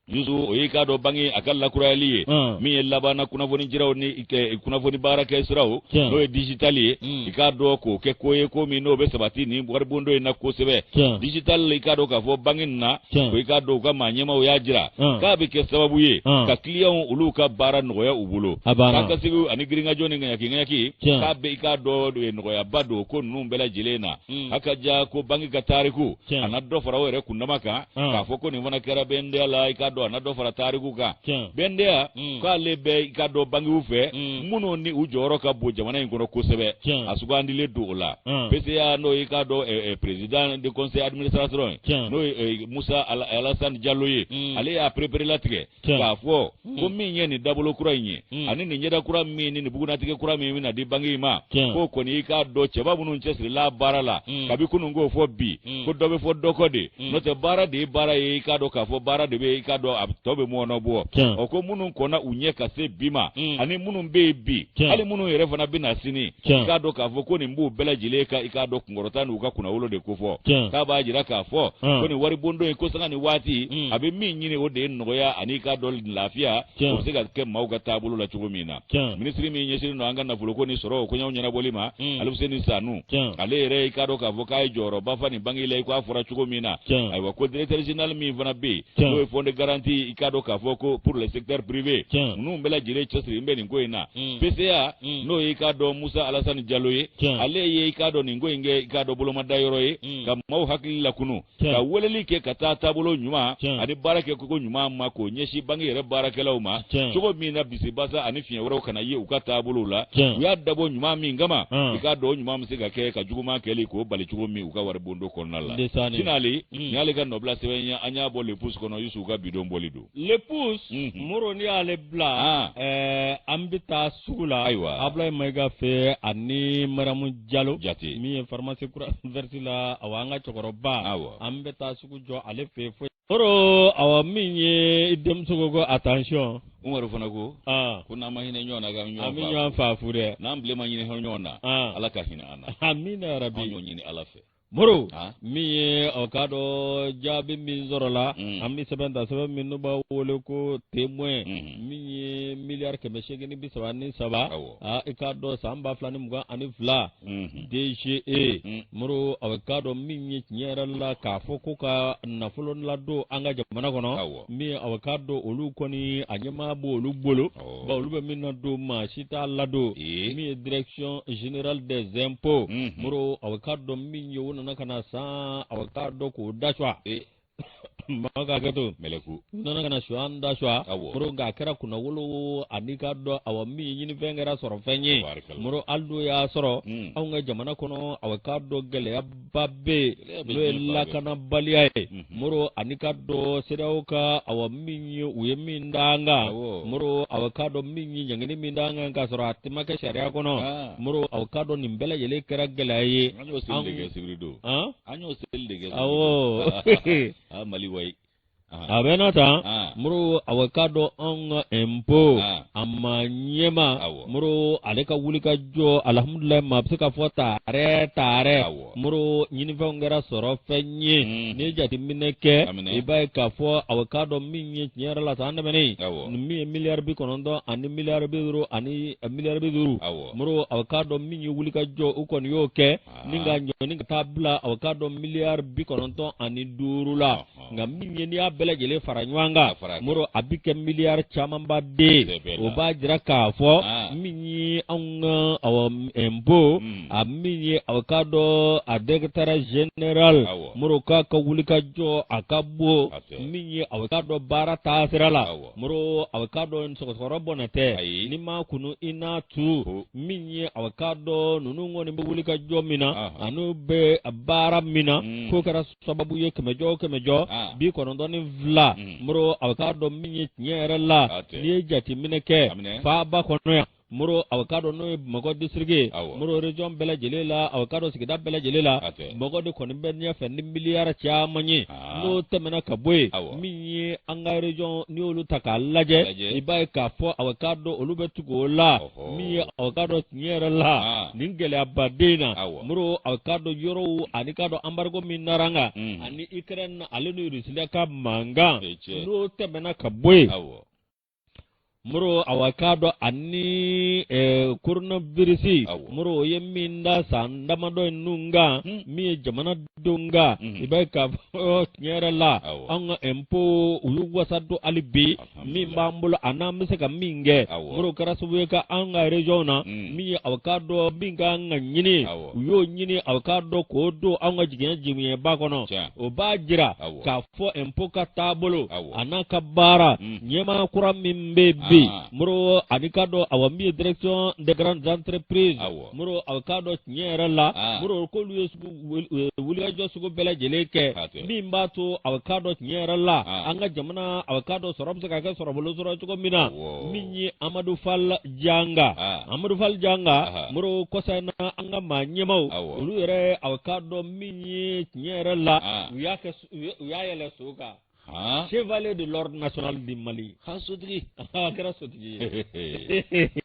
Yusu o y'i k'a dɔn banki a ka lakurayali ye hmm. min ye labanna kunnafoni jiraw ni kunnafoni baarakɛ siraw hmm. n'o ye dijitali ye hmm. i k'a dɔn k'o kɛ ko ye ko min n'o bɛ sabati nin waribondo in na kosɛbɛ dijitali i k'a dɔn k'a fɔ banki nin na ko i k'a dɔn u ka maa ɲɛmaw y'a jira k'a bɛ kɛ sababu ye ka kiliyanw olu ka baara nɔgɔya u bolo k'a ka sigi ani girinkajɔ ni ŋayakiŋayaki k'a bɛ i k'a dɔn eh, nɔgɔyaba don ko ninnu bɛɛ lajɛlen na a ka ja ko banki ka tariku a na dɔ fara o yɛrɛ kundama kan Ah. k'a fɔ ko nin fana kɛra BNDA la i k'a dɔn a na dɔ fara tariku kan BNDA mm. k'ale bɛ i k'a dɔn bankiw fɛ mm. minnu ni u jɔyɔrɔ ka bon jamana in kɔnɔ kosɛbɛ a sugandilen don o la ah. PCA n'o y'i k'a dɔn eh, eh, président de conseil administration ye n'o ye eh, musa alassane diallo ye mm. ale y'a pereperelatigɛ Tiɲɛ. k'a fɔ ko min ye nin dabolo kura in ye Mm. ani nin ɲɛda kura min ni nin bugunnatigɛ kura min bɛna di banki in ma Tiɲɛ. k'o kɔni i k'a dɔn cɛba minnu cɛsirila baara la Mm. kabi kunun ko fo bi Mm. ko dɔ bɛ fɔ dɔ kɔ de Mm. n'o tɛ baara de ye baara ye i k'a dɔn k'a fɔ baara de bɛ yen, i k'a dɔn a tɔ bɛ mɔnɔbɔ Tiɲɛ. o ko minnu kɔnna u ɲɛ ka se bi ma Mm. ani minnu bɛ yen bi Tiɲɛ. hali minnu yɛrɛ fana bɛna sini Tiɲɛ. i k'a dɔn k'a fɔ ko nin b'u bɛɛ lajɛlen ka i k'a dɔn kunkɔrɔta n'u ka kunnawolo de ko fɔ k'a b'a jira k'a fɔ ko nin waribondo in ko sanga ni waati mm. a bɛ min ɲini o de ye nɔgɔya ani i k'a dɔn lafiya o bɛ se ka kɛ maaw ka taabolo la cogo min na minisiri min ɲɛsinnen don an ka nafoloko ni sɔrɔ koɲɛw ɲɛnabɔli ma mm. aluseni sanu ale yɛrɛ i k'a dɔn k'a fɔ k'a ye jɔyɔrɔba fa nin banki la i ko a fɔra cogo min na ayiwa ko directeur général min fana bɛ yen n'o ye fond de garantie i k'a dɔn k'a fɔ ko pour le secteur privé ninnu bɛɛ lajɛlen cɛsirilen bɛ nin ko in na PCA n'o ye i k'a dɔn Musa Alasani Jalo ye ale ye i k'a dɔn nin ko in kɛ i k'a dɔn bolomada yɔrɔ ye ka maaw hakili lakunu ka weleli kɛ ka taa taabolo ɲuman ani baara kɛko ɲuman ma k'o ɲɛsin banki yɛrɛ baarakɛlaw ma cogo min na bisibasa ani fiɲɛ wɛrɛw kana ye u ka taabolow la u y'a dabɔ ɲuman min kama i k'a dɔn o ɲuman bɛ se ka kɛ ka juguman kɛli k'o bali cogo min u ka waribondo kɔnɔna la sinali nin y'ale ka nɔbila sɛbɛn ye an y'a bɔ le pouce kɔnɔ yusufu ka bi don bɔli don le pouce moro n'i y'ale bila an bɛ taa sugu la ayiwa abulayi mayiga fɛ ani maramu jalo jate min ye pharmacie croix verte la awa an ka cɛkɔrɔba awa an bɛ taa sugu jɔ ale fɛ fɔlɔ moro awa min ye denmuso ko ko attention umaru fana ko ko n'an ma hinɛ ɲɔgɔn na k'an bɛ ɲɔgɔn faa fu dɛ n'an bilen ma hinɛ ɲɔgɔn na ala ka hinɛ an na amina yarabi an y'o ɲini ala fɛ moro min ye a bɛ k'a dɔn jaabi min sɔrɔla mm. an bɛ sɛbɛn ta sɛbɛn min n'u b'a wele ko témoin mm. min ye miliyari kɛmɛ seegin ni bi saba ni saba i k'a dɔn san ba fila ni mugan ani fila mm-hmm. dge mm. moro a bɛ k'a dɔn min ye tiɲɛ yɛrɛ la k'a fɔ ko ka nafolo ladon an ka jamana kɔnɔ min a bɛ k'a dɔn olu kɔni a ɲɛmaa b'olu bolo bawo olu bɛ min ladon maa si t'a ladon min ye direction générale des impôts mhm. moro a bɛ k'a dɔn min ye o nana ka na san a bɛ k'a dɔn k'o da cwa maa ka hakɛ to mɛlɛku u nana ka na suyan da suwa moro nka a kɛra kunnawolo ani k'a dɔn awa min ye ɲinifɛn kɛra sɔrɔfɛn ye moro hali n'o y'a sɔrɔ hmm. anw ka jamana kɔnɔ a bɛ k'a dɔn gɛlɛya ba bɛ yen n'o ye lakanabaliya ye moro ani k'a dɔn CEDEAO ka awa min ye u ye min d'an kan moro a bɛ k'a dɔn min ye ɲangini min d'an kan k'a sɔrɔ a tun ma kɛ sariya kɔnɔ moro a bɛ k'a dɔn nin bɛɛ lajɛlen kɛra gɛlɛya ye an y'o seli de kɛ sibiri don an y'o seli de kɛ awɔ mali wayi a bɛ na taa moro a bɛ k'a dɔn an ka impôt a maa ɲɛmaa moro ale ka wuli ka jɔ alihamududulila maa bɛ se k'a fɔ taarɛ taarɛ moro ɲininfɛn kɛra sɔrɔfɛn ye n'i ye jateminɛ kɛ i b'a ye k'a fɔ a bɛ k'a dɔn min ye tiɲɛ yɛrɛ la san tɛmɛnen min ye miliyari bi kɔnɔntɔn ani miliyari bi duuru ani miliyari bi duuru moro a bɛ k'a dɔn min ye wuli ka jɔ u kɔni y'o kɛ nin k'a ɲɔni ka taa bila aw k'a dɔn miliyari bi kɔnɔntɔn ani duuru la nka min ye n'i y'a bɛɛ lajɛlen fara ɲɔgɔn kan moro a bɛ kɛ miliyari camanba de o b'a jira k'a fɔ min ye anw ka awɔ ɛnpo hmm. a min ye aw k'a dɔn a dirɛkitɛri zenerali moro k'a ka wulikajɔ a ka bon min ye aw k'a dɔn baara taasira la. moro aw k'a dɔn sɔgɔsɔgɔ rɔ bɔnɛ tɛ n'i m'a kunu i n'a tu min ye aw k'a dɔn ninnu kɔni bɛ wulikajɔ min na ani u bɛ baara min na mm. k'o kɛra sababu ye kɛmɛjɔ o kɛmɛjɔ ah. bi kɔnɔntɔn ni fila mm. moro aw k'a dɔn min ye tiɲɛ yɛrɛ la n'i ye jateminɛ kɛ faaba kɔnɔ yan moro aw k'a dɔn n'o ye bamakɔ disiriki moro region bɛɛ lajɛlen la aw k'a dɔn sigida bɛɛ lajɛlen la bamakɔ de kɔni bɛ ɲɛfɛ ni miliyari caman ye ah. n'o tɛmɛna ka bɔ yen min ye an ka region n'i y'olu ta k'a lajɛ i b'a ye k'a fɔ aw k'a dɔn olu bɛ tugu o la min ye aw k'a dɔn tiɲɛ yɛrɛ la ah. nin gɛlɛya waati in na moro aw k'a dɔn yɔrɔw ani k'a dɔn anbarigo min nara an kan hmm. ani ikɛrɛn ale ni irisiya ka mankan n'o tɛmɛna ka bɔ yen moro aw k'a dɔn ani eh, coronavirus Awɔ. moro o ye min da san damadɔ ninnu kan Hmm. min ye jamana denw kan Mhm. i b'a ye k'a fɔ tiɲɛ yɛrɛ la Awɔ. an ka impôt u y'u wasa don hali bi min Alhamdulillah. b'an bolo a n'an bɛ se ka min kɛ Awɔ. moro kɛra sababu ye ka an ka région na Mm. min ye aw k'a dɔn min ka kan ka ɲini Awɔ. u y'o ɲini aw k'a dɔn k'o don an ka jigiɲɛ jigiɲɛba kɔnɔ Tiɲɛ. o b'a jira Awɔ. k'a fɔ ɛnpo ka taabolo a n'a ka baara mm. ɲɛmaa kura min bɛ bi ah. moro ani k'a dɔn awa min ye direction des grandes entreprises moro aw k'a dɔn tiɲɛ yɛrɛ la ah. moro k'olu ye wulikajɔ sugu bɛɛ lajɛlen kɛ min b'a to aw k'a dɔn tiɲɛ yɛrɛ la ah. an ka jamana aw k'a dɔn sɔrɔ bɛ se ka kɛ sɔrɔbolo sɔrɔ cogo min na min ye amadu fal janga amadu fal janga moro kɔsa in na an ka maa ɲɛmaaw olu yɛrɛ aw k'a dɔn min ye tiɲɛ yɛrɛ la u y'a u y'a yɛlɛn so kan chevalier de l'ordre national du mali ha sotigi a kɛra sotigi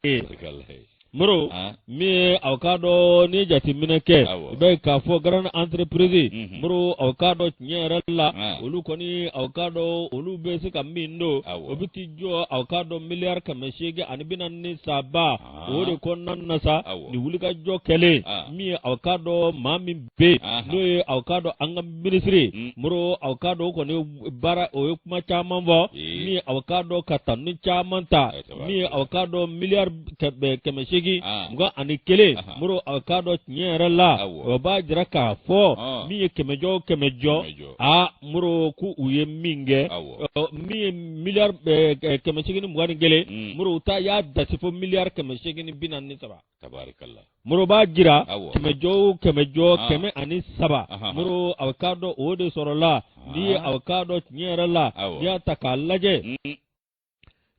ye moro min aw k'a dɔn n'i ye jateminɛ kɛ i b'a ye k'a fɔ grandes entreprises mhm. moro aw k'a dɔn tiɲɛ yɛrɛ la olu kɔni aw k'a dɔn olu bɛ se ka min don o bɛ t'i jɔ aw k'a dɔn miliyari kɛmɛ seegin ani bi naani ni saba o de kɔnɔna na sa ni wulikajɔ kɛlen min ye aw k'a dɔn maa min bɛ yen n'o ye aw k'a dɔn an ka minisiri mm. moro aw k'a dɔn o kɔni baara o ye kuma caman fɔ min ye aw k'a dɔn ka tanu caman ta min ye aw k'a dɔn miliyari kɛmɛ seegin mugan ani kelen moro aw k'a dɔn tiɲɛ yɛrɛ la o b'a jira k'a fɔ min ye kɛmɛjɔ o kɛmɛjɔ aa moro ko u ye min kɛ min ye miliyari kɛmɛsegin ni mugan ni kelen mm. moro u ta y'a dasi fo miliyari kɛmɛsegin ni binaani ni saba moro b'a jira kɛmɛjɔ kɛmɛjɔ ah. kɛmɛ ani saba moro a bɛ k'a dɔn o de sɔrɔla n'i ye ah. a bɛ k'a dɔn tiɲɛ yɛrɛ la n'i y'a ta k'a lajɛ mm.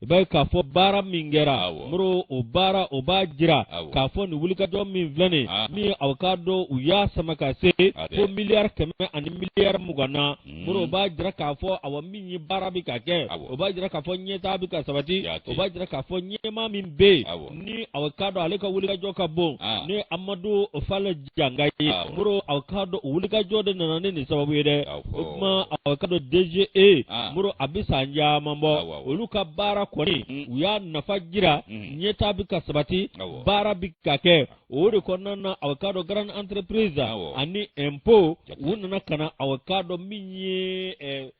i b'a ye k'a fɔ baara min kɛra moro o baara o b'a jira k'a fɔ nin wulikajɔ min filɛ nin aw k'a dɔn u y'a sama ka se fo miliyari kɛmɛ ani miliyari mugan na mm. moro o b'a jira k'a fɔ awa min ye baara bɛ ka kɛ o b'a jira k'a fɔ ɲɛtaa bɛ ka sabati o b'a jira k'a fɔ ɲɛmaa min bɛ yen ni aw k'a dɔn ale ka wulikajɔ ka bon ni amadu fali janka ye Awɔ. moro a k'a dɔn o wulikajɔ de nana ni nin sababu ye dɛ Awɔ. o tuma a k'a dɔn DGE Ah. moro a bɛ san caman Awɔ, bɔ awɔ. olu ka baara kɔni Mm. u y'a nafa jira Mhm. ɲɛtaa bɛ ka sabati Awɔ. baara bɛ ka kɛ o de kɔnɔna na a k'a dɔn grande entreprise Awɔ. ani impôt Jaati. u nana ka na a k'a dɔn min ye eh,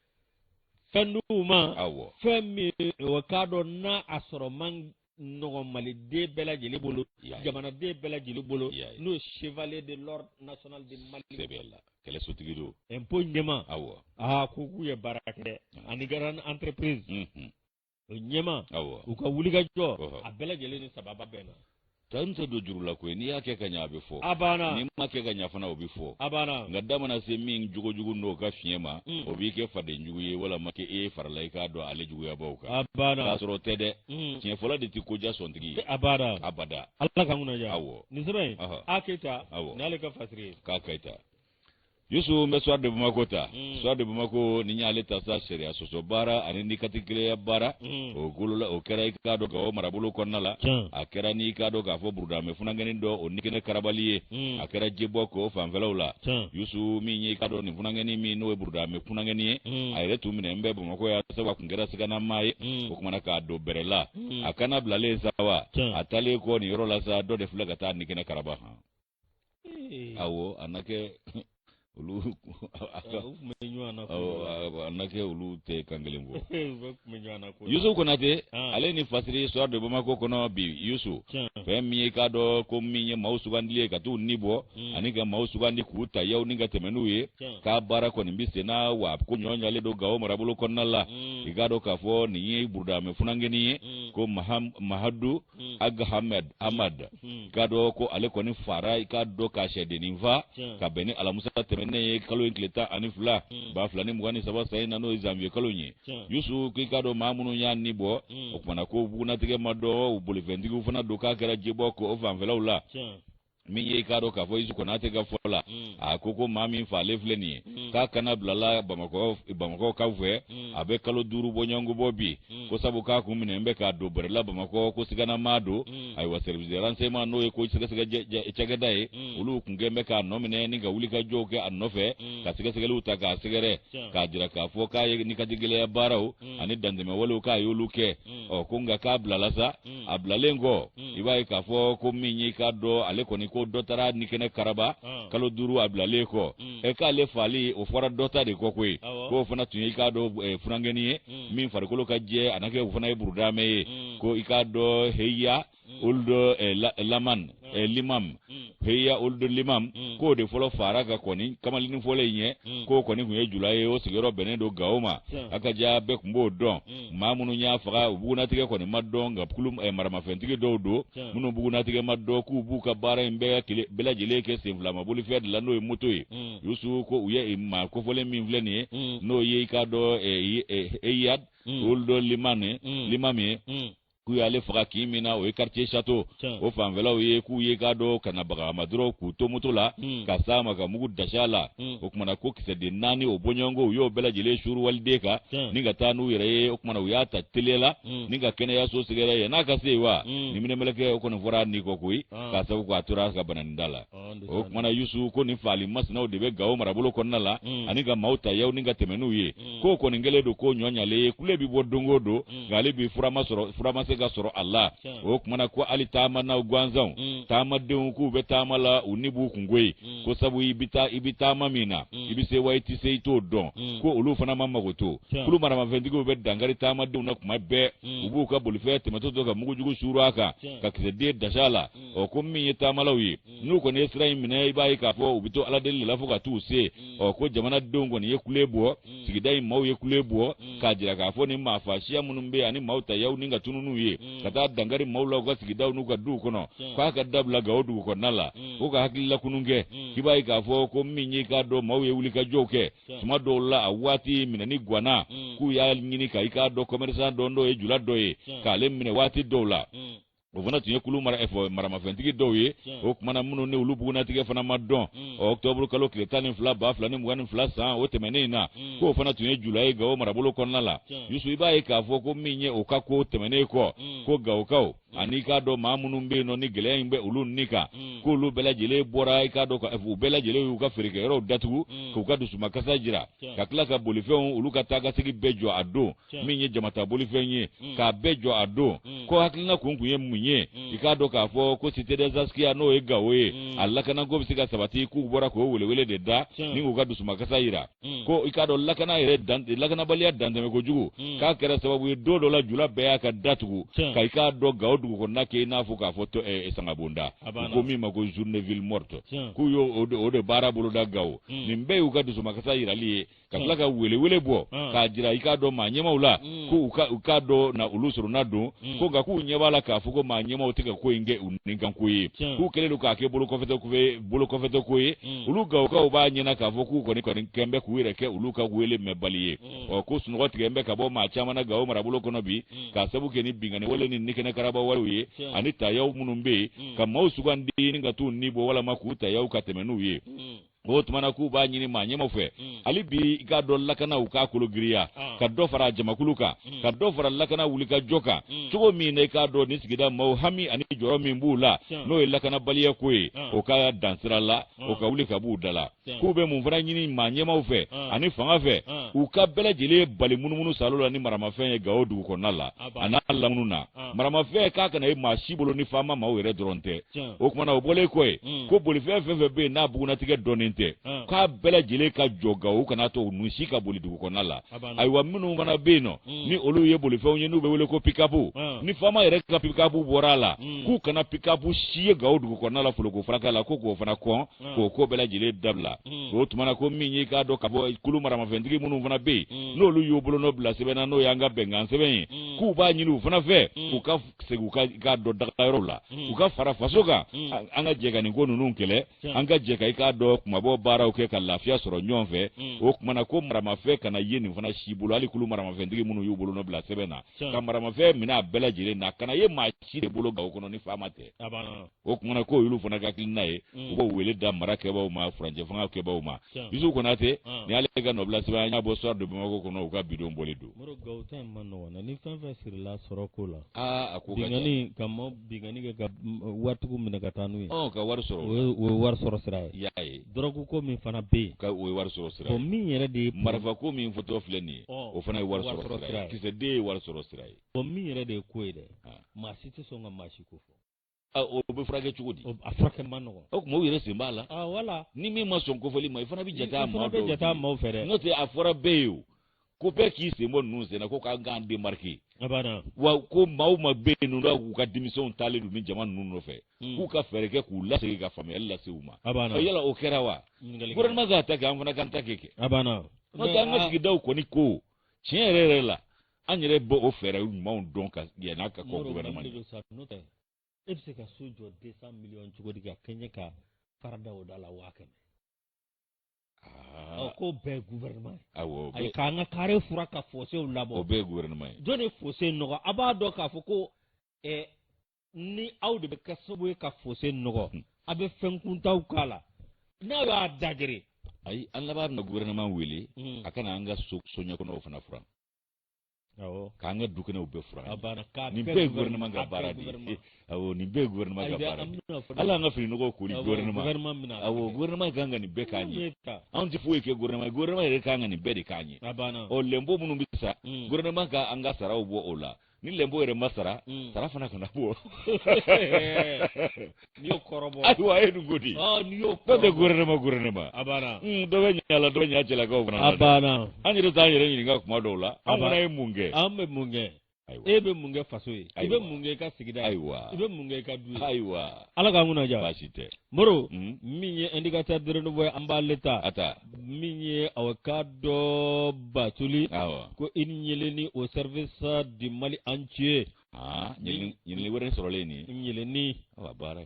fɛn d'u ma awɔ fɛn min a k'a dɔn n'a sɔrɔ man nɔgɔ maliden bɛɛ lajɛlen bolo jamanaden bɛɛ lajɛlen bolo n'o ye chevalier de l'ordre national de Mali sɛbɛn la kɛlɛsotigi don impôt ɲɛmaa awɔ aa ko k'u ye baara kɛ dɛ ani grande entreprise o ɲɛmaa awɔ u ka wulikajɔ a bɛɛ lajɛlen ni sababu bɛɛ na tanu tɛ don juru la koyi n'i y'a kɛ ka ɲɛ a bɛ fɔ a banna n'i ma kɛ ka ɲɛ fana o bɛ fɔ a banna nka da mana se min jogojugu n'o ka fiɲɛ ma o b'i kɛ fadenjugu ye walama k'e farala i k'a dɔn ale juguyabaaw kan a banna k'a sɔrɔ o tɛ dɛ Mm. tiɲɛ fɔlɔ de tɛ koja sɔntigi ye abada abada ala k'an kunna diya awɔ nin sɛbɛn in a keyita awɔ n'ale ka fasiri ye k'a keyita yusu n bɛ soir de bamako ta mm. soir de bamako n'i y'ale ta sa sariya sɔsɔ baara ani nin katigɛlɛya baara mm. o golola o kɛra i k'a dɔn gawo marabolo kɔnɔna la a kɛra n'i k'a dɔn k'a fɔ burudamɛ funankɛnin dɔ o nikɛnɛ karabali ye a kɛra jebɔki o fanfɛlaw la yusu min ye i k'a dɔn nin funankɛnin min n'o ye burudamɛ funankɛnin ye a yɛrɛ tun minɛnen bɛ bamako yan sabu a tun kɛra siganamaa ye kumana k'a don bɛrɛ la hmm. a kana bilalen sa wa a taalen kɔ nin yɔrɔ la sa dɔ de filɛ ka taa nikɛnɛ karaba han awɔ a na kɛ olu a na kɛ olu tɛ kan kelen fɔ yusu konate ale ni fasiri soir de bamako kɔnɔ bi yusu fɛn min ye k'a dɔn ko min ye maaw sugandili ye ka t'u ni bɔ hmm. ani ka maaw sugandi k'u ta yan ni ka tɛmɛ n'u ye k'a baara kɔni bɛ sen na wa ko ɲɔ ɲalen don gawo marabolo kɔnɔna la hmm. i k'a dɔn k'a fɔ nin ye burudamɛ funankɛni ye hmm. ko mahadu ag hamed amad i k'a dɔn ko ale kɔni faara i k'a dɔn ka cɛdennin fa ka bɛn ni alamusa tɛmɛnen ye kalo in tile tan ani fila ba fila ni mugan ni saba san in na n'o ye zanwiye kalo in ye yusu k'i k'a dɔn maa minnu y'a ni bɔ o tumana ko bugunnatigɛ ma dɔn u bolifɛntigiw fana don k'a kɛra jebɔki o fanfɛlaw la min ye i k'a dɔn k'a fɔ yusu konate ka fɔ la mm. a ko ko maa min faalen filɛ nin ye mm. k'a kana bilala bamakɔkaw fɛ mm. a bɛ kalo duuru bɔ ɲɔgɔnko bɔ bi ko sabu k'a kun minɛ n bɛ k'a don bɛrɛla bamakɔ ko siganama don ayiwa service de renseignement n'o ye ko sɛgɛsɛgɛ cakɛda ye olu kun kɛn bɛ k'a nɔ minɛ ni ka wuli ka jɔw kɛ a nɔfɛ ka sɛgɛsɛgɛliw ta k'a sɛgɛrɛ k'a jira k'a fɔ k'a ye nin katigɛlɛya baaraw ani dantɛmɛwalew k'a y'olu kɛ ɔ ko nka k'a bilala sa Mm. a bilalen kɔ mm. i b'a ye k'a fɔ ko min y'i k'a dɔn ale kɔni ko dɔ taara nikɛnɛ karaba ah. kalo duuru a bilalen kɔ mm. ɛ k'ale faali o fɔra dɔ ta de kɔ koyi k'o fana tun ye i k'a dɔn eh, funankɛnin ye min farikolo ka jɛ a na kɛ o fana ye burudamɛ ye ko i k'a dɔn heya ould eh, laman eh, limam mm. heya ould limam mm. k'o de fɔlɔ faara ka kɔn kamalennin fɔlɔ in ɲɛ mm. k'o kɔni tun ye jula ye o sigiyɔrɔ bɛnnen don gawo ma a ka ca bɛɛ tun b'o dɔn mm. maa minnu y'a faga u bugunatigɛ kɔni ma dɔn nka kulu eh, maramafɛntigi dɔw don minnu bugunatigɛ ma dɔn k'u b'u ka baara in bɛɛ kile bɛɛ lajɛlen kɛ senfilama bolifɛn de la n'o ye moto ye mm. yusu ko u ye maa kofɔlen min filɛ nin ye mm. n'o ye i k'a dɔn eh, eh, eyad mm. ould limane mm. limami ye mm. k'u y'ale faga kin min na o ye quartier château o fanfɛlaw ye k'u ye i k'a dɔn ka na baga a ma dɔrɔn k'u to moto la hmm. ka s'a ma ka mugu dasi a la hmm. o kumana ko kisɛden naani o bɔɲɔgɔnko u y'o bɛɛ lajɛlen suuru waliden kan ni ka taa n'u yɛrɛ ye o kumana u y'a ta teliya la hmm. ni ka kɛnɛyaso sɛgɛrɛ yann'a ka se yen wa niminɛmɛlɛkɛ o kɔni fɔra ni kɔ koyi ah. k'a sabu k'a tora ka bananinda la o kumana yusu ko nin faali masinaw de bɛ gawo marabolo kɔnɔna la mm. ani ka maaw tayaw ni ka tɛmɛ n'u ye mm. k'o kɔni kɛlen don ko ɲɔɲalen ye kule bi bɔ don o don mm. nka hali bi fura ma se ka sɔrɔ a la o kumana ko hali taamanaw gansanw taamadenw k'u bɛ taama la u ni b'u kunko ye ko sabu i bɛ taa i bɛ taama min na i bɛ se wa i tɛ se i t'o dɔn ko olu fana ma mago to kulu maramafɛntigiw bɛ dankari taamadenw na tuma bɛɛ u b'u ka bolifɛn tɛmɛtɔ to ka mugujugu suuru a kan ka kisɛden dasa a la ɔ ko min ye taamalaw ye n'u kɔni ye sira in minɛ i b'a ye k'a fɔ u bɛ to ala deli de la fo ka t'u se ɔ ko jamanadenw kɔni ye kule bɔ sigida in maaw ye kule bɔ k'a jira k'a fɔ nin maafa siya minnu bɛ ani maaw tayaw ni ka tunun n'u ye ka taa dankari maaw la u ka sigidaw n'u ka duw kɔnɔ k'a ka dabila gawo dugu kɔnɔna la ko ka hakililakunun kɛ k'i b'a ye k'a fɔ ko min ye i k'a dɔn maaw ye wulikajɔw kɛ tuma dɔw la a waati minɛni gwana k'u y'a ɲini ka i k'a dɔn kɔmɛrisan dɔ dɔ ye jula dɔ ye k'ale minɛ waati dɔw la o fana tun ye kulu mara eh, maramafɛntigi dɔw ye o kumana minnu ni olu bugunatigɛ fana ma dɔn mm. ɔktɔburu kalo tile tan ni fila ba fila ni mugan ni fila san o tɛmɛnen in na mm. k'o fana tun ye jula ye gawo marabolo kɔnɔna la yusu i b'a ye k'a fɔ ko min ye o ka ko tɛmɛnen kɔ mm. ko gawokaw ani i k'a dɔn maa minnu bɛ yen nɔ ni gɛlɛya in bɛ olu ni kan k'olu bɛɛ lajɛlen bɔra i k'a dɔn eh, u bɛɛ lajɛlen y'u ka feerekɛyɔrɔw datugu k'u ka dusumakasa jira ka tila ka bolifɛnw olu ka taagasegin bɛɛ jɔ a don min ye jama ta bolifɛn ye mm. k'a bɛɛ jɔ a don mm. ko hakilina kun kun ye mun ye mm. i k'a dɔn k'a fɔ ko cité des askia n'o ye gawo ye a lakanako bɛ se ka sabati k'u bɔra k'o welewele de da ni k'u ka dusumakasa yira ko i k'a dɔn lakana yɛrɛ lakanabaliya dantɛmɛ kojugu k'a kɛra sababu ye don dɔ la jula bɛɛ y'a ka datugu ka i k'a dɔn gawo dugukɔnɔna kɛ i n'a fɔ k'a fɔ ko eh, sangabonda ko min ma ko journée ville morte k'u y'o de baara boloda gawo nin bɛɛ y'u ka dusumakasa yirali ye ka tila ka welewele bɔ k'a jira i k'a dɔn maa ɲɛmaw la ko u k'a dɔn na olu sorona don ko nka k'u ɲɛ b'a la k'a fɔ ko maa ɲɛmaw tɛ ka ko in kɛ u nikanko ye k'u kɛlen don k'a kɛ bolokɔfɛtɔko ye olu gawokaw b'a ɲɛna k'a fɔ k'u kɔni kɔni kɛn bɛ k'u yɛrɛ kɛ olu ka wele mɛnbali ye ɔ ko sunɔgɔ tigɛn bɛ ka bɔ maa caman na gawo marabolo kɔnɔ bi k'a sabu kɛ ni binkanni wale ni nikɛnɛ karaba walew ye ani tayaw minnu bɛ yen ka maaw sugandi ni ka t'u ni bɔ walama k'u tayaw ka tɛmɛ n'u ye o tumana k'u b'a ɲini maa ɲɛmaw fɛ mm. hali bi i k'a dɔn lakana u k'a kolo giriya ah. ka dɔ fara jamakulu kan mm. ka dɔ fara lakana wulikajɔ kan mm. cogo min na i k'a dɔn ni sigida maaw hami ani jɔrɔ min b'u la n'o ye lakanabaliya ko ye ah. o ka dan sira la ah. o ka wuli ka b'u da la k'u bɛ mun fana ɲini maa ɲɛmaw fɛ ani fanga fɛ u ka bɛɛ lajɛlen bali munumunu salo la ni maramafɛn ye gawo dugu kɔnɔna la a n'a lamunun na maramafɛn k'a kana ye maa si bolo ni faama maaw yɛrɛ dɔrɔn tɛ o kumana o bɔlen kɔ ye mm. ko bolifɛn fɛn fɛn bɛ yen n'a bugunnatigɛ dɔnnen tɛ k'a bɛɛ lajɛlen ka jɔ gawo u kana to nun si ka boli dugu kɔnɔna la ayiwa minnu fana bɛ yen nɔ mm. ni olu ye bolifɛnw ye n'u bɛ wele ko pikapu ni faama yɛrɛ ka pikapu bɔra a la mm. k'u kana pikapu si ye gawo dugu kɔnɔna la foloko faraka la ko k'o fana kɔn k'o ko bɛɛ lajɛlen dabila o tumana ko min y'i k'a dɔn ka bɔ kulu maramafɛntigi minnu fana bɛ yen n'olu y'u bolonɔ bila sɛbɛn na n'o y'an ka bɛnkan sɛbɛn ye k'u b'a ɲini u fana fɛ k'u ka segin u ka k'a dɔn dagayɔrɔw la u ka fara faso kan an ka jɛ ka nin ko ninnu kɛlɛ an ka jɛ ka i k'a dɔn kunmabɔ baaraw kɛ ka lafiya sɔrɔ ɲɔgɔn fɛ o kumana ko maramafɛn kana ye nin fana si bolo hali kulu maramafɛntigi minnu y'u bolonɔ bila sɛbɛn na ka maramafɛn minɛ a bɛɛ lajɛlen na kana ye maa si de bolo gawo kɔnɔ ni faama tɛ o kumana ko olu fana ka hakilina ye mm. u b'o wele da mara kɛbaaw ma furancɛ fanga kɛbaaw ma yusufu konate ah. ni ale ka nɔbila sɛbɛn an y'a bɔ soir de bamako kɔnɔ u ka bi don bɔli don gawo ta in man nɔgɔn ni fɛn fɛn sirila sɔrɔ ko la ah, a ko ka binkanni ka mɔ binkanni kɛ ka waritigiw minɛ ka taa n'u ye ka wari sɔrɔ o ye wari sɔrɔ sira ye i y'a ye dɔrɔgu ko min fana bɛ yen ka o ye wari sɔrɔ sira ye min yɛrɛ de ye marifa ko min fɔtɔ filɛ nin ye o fana ye wari sɔrɔ sira ye kisɛden ye wari sɔrɔ sira ye min yɛrɛ de ye ko ye dɛ ah. maa si tɛ sɔn ka maa si ko fɔ o bɛ furakɛ cogo di a furakɛ man nɔgɔn o tuma u yɛrɛ sen b'a la wala ni min ma sɔn kofɔli ma i fana bɛ jate a maaw fɛ dɛ n'o tɛ a fɔra bɛɛ ye o ko bɛɛ k'i sen bɔ ninnu senna ko k'an k'an démarquer wa ko maaw ma bɛ yen ninnu k'u ka denmisɛnw taalen don ni jama ninnu nɔfɛ hmm. k'u ka fɛɛrɛ kɛ k'u lasegin ka faamuyali lase u ma yala o kɛra wa gouvernement k'a ta kɛ an fana k'an ta kɛ n'o tɛ an ka sigidaw kɔni ko tiɲɛ yɛrɛ yɛrɛ la an yɛrɛ b'o fɛɛrɛ ɲumanw dɔn ka yɛlɛn ka kɔ gouvernement de don sa n'o tɛ e bɛ se ka so jɔ 200 millions cogo di ka kɛɲɛ ka fara da o da la waa kɛmɛ ɔ ko bɛɛ gouvernement awɔ ayi k'an ka kare furan ka fosew labɔ o bɛɛ gouvernement ye jɔn de fose nɔgɔ a b'a dɔn k'a fɔ ko ni aw de bɛ kɛ sababu ye ka fosse nɔgɔ hmm. a bɛ fɛn kuntanw k'a la n'a y'a da geren ayi an laban bɛna gouvernement wele hmm. a ka na an ka soɲɛkɔnɔw fana furan k'an ka dukɛnɛw bɛɛ furan nin bɛɛ ye gouvernement ka baara de ye awɔ nin bɛɛ ye gouvernement ka baara de ye hali an ka fini nɔgɔw koli gouvernement awɔ gouvernement kan ka nin bɛɛ k'an ye anw tɛ foyi kɛ gouvernement ye gouvernement yɛrɛ kan ka nin bɛɛ de k'an ye ɔ lɛnpo minnu bɛ sara hmm. gouvernement ka an ka saraw bɔ o la ni lɛnpo yɛrɛ ma sara mm. sara fana kana bɔ n'i y'o kɔrɔbɔ ayiwa a ye nin ko di n'i y'o kɔrɔbɔ dɔ tɛ gouvernement gouvernement a banna mm, dɔ bɛ ɲɛ a la dɔ bɛ ɲɛ a cɛlakaw fana la a banna an yɛrɛ t'an yɛrɛ ɲininka kuma dɔw la an fana ye mun kɛ an bɛ mun kɛ e bɛ mun kɛ faso ye i bɛ mun kɛ i ka sigida ye i bɛ mun kɛ i ka du ye ayiwa ala k'an kunna diya baasi tɛ moro mm. min ye indicateur de renouveau ye an b'ale ta a ta min ye aw ka dɔn batuli ko une ɲeleni au service du mali entier ɲeleni wɛrɛ sɔrɔlen nin ɲeleni baara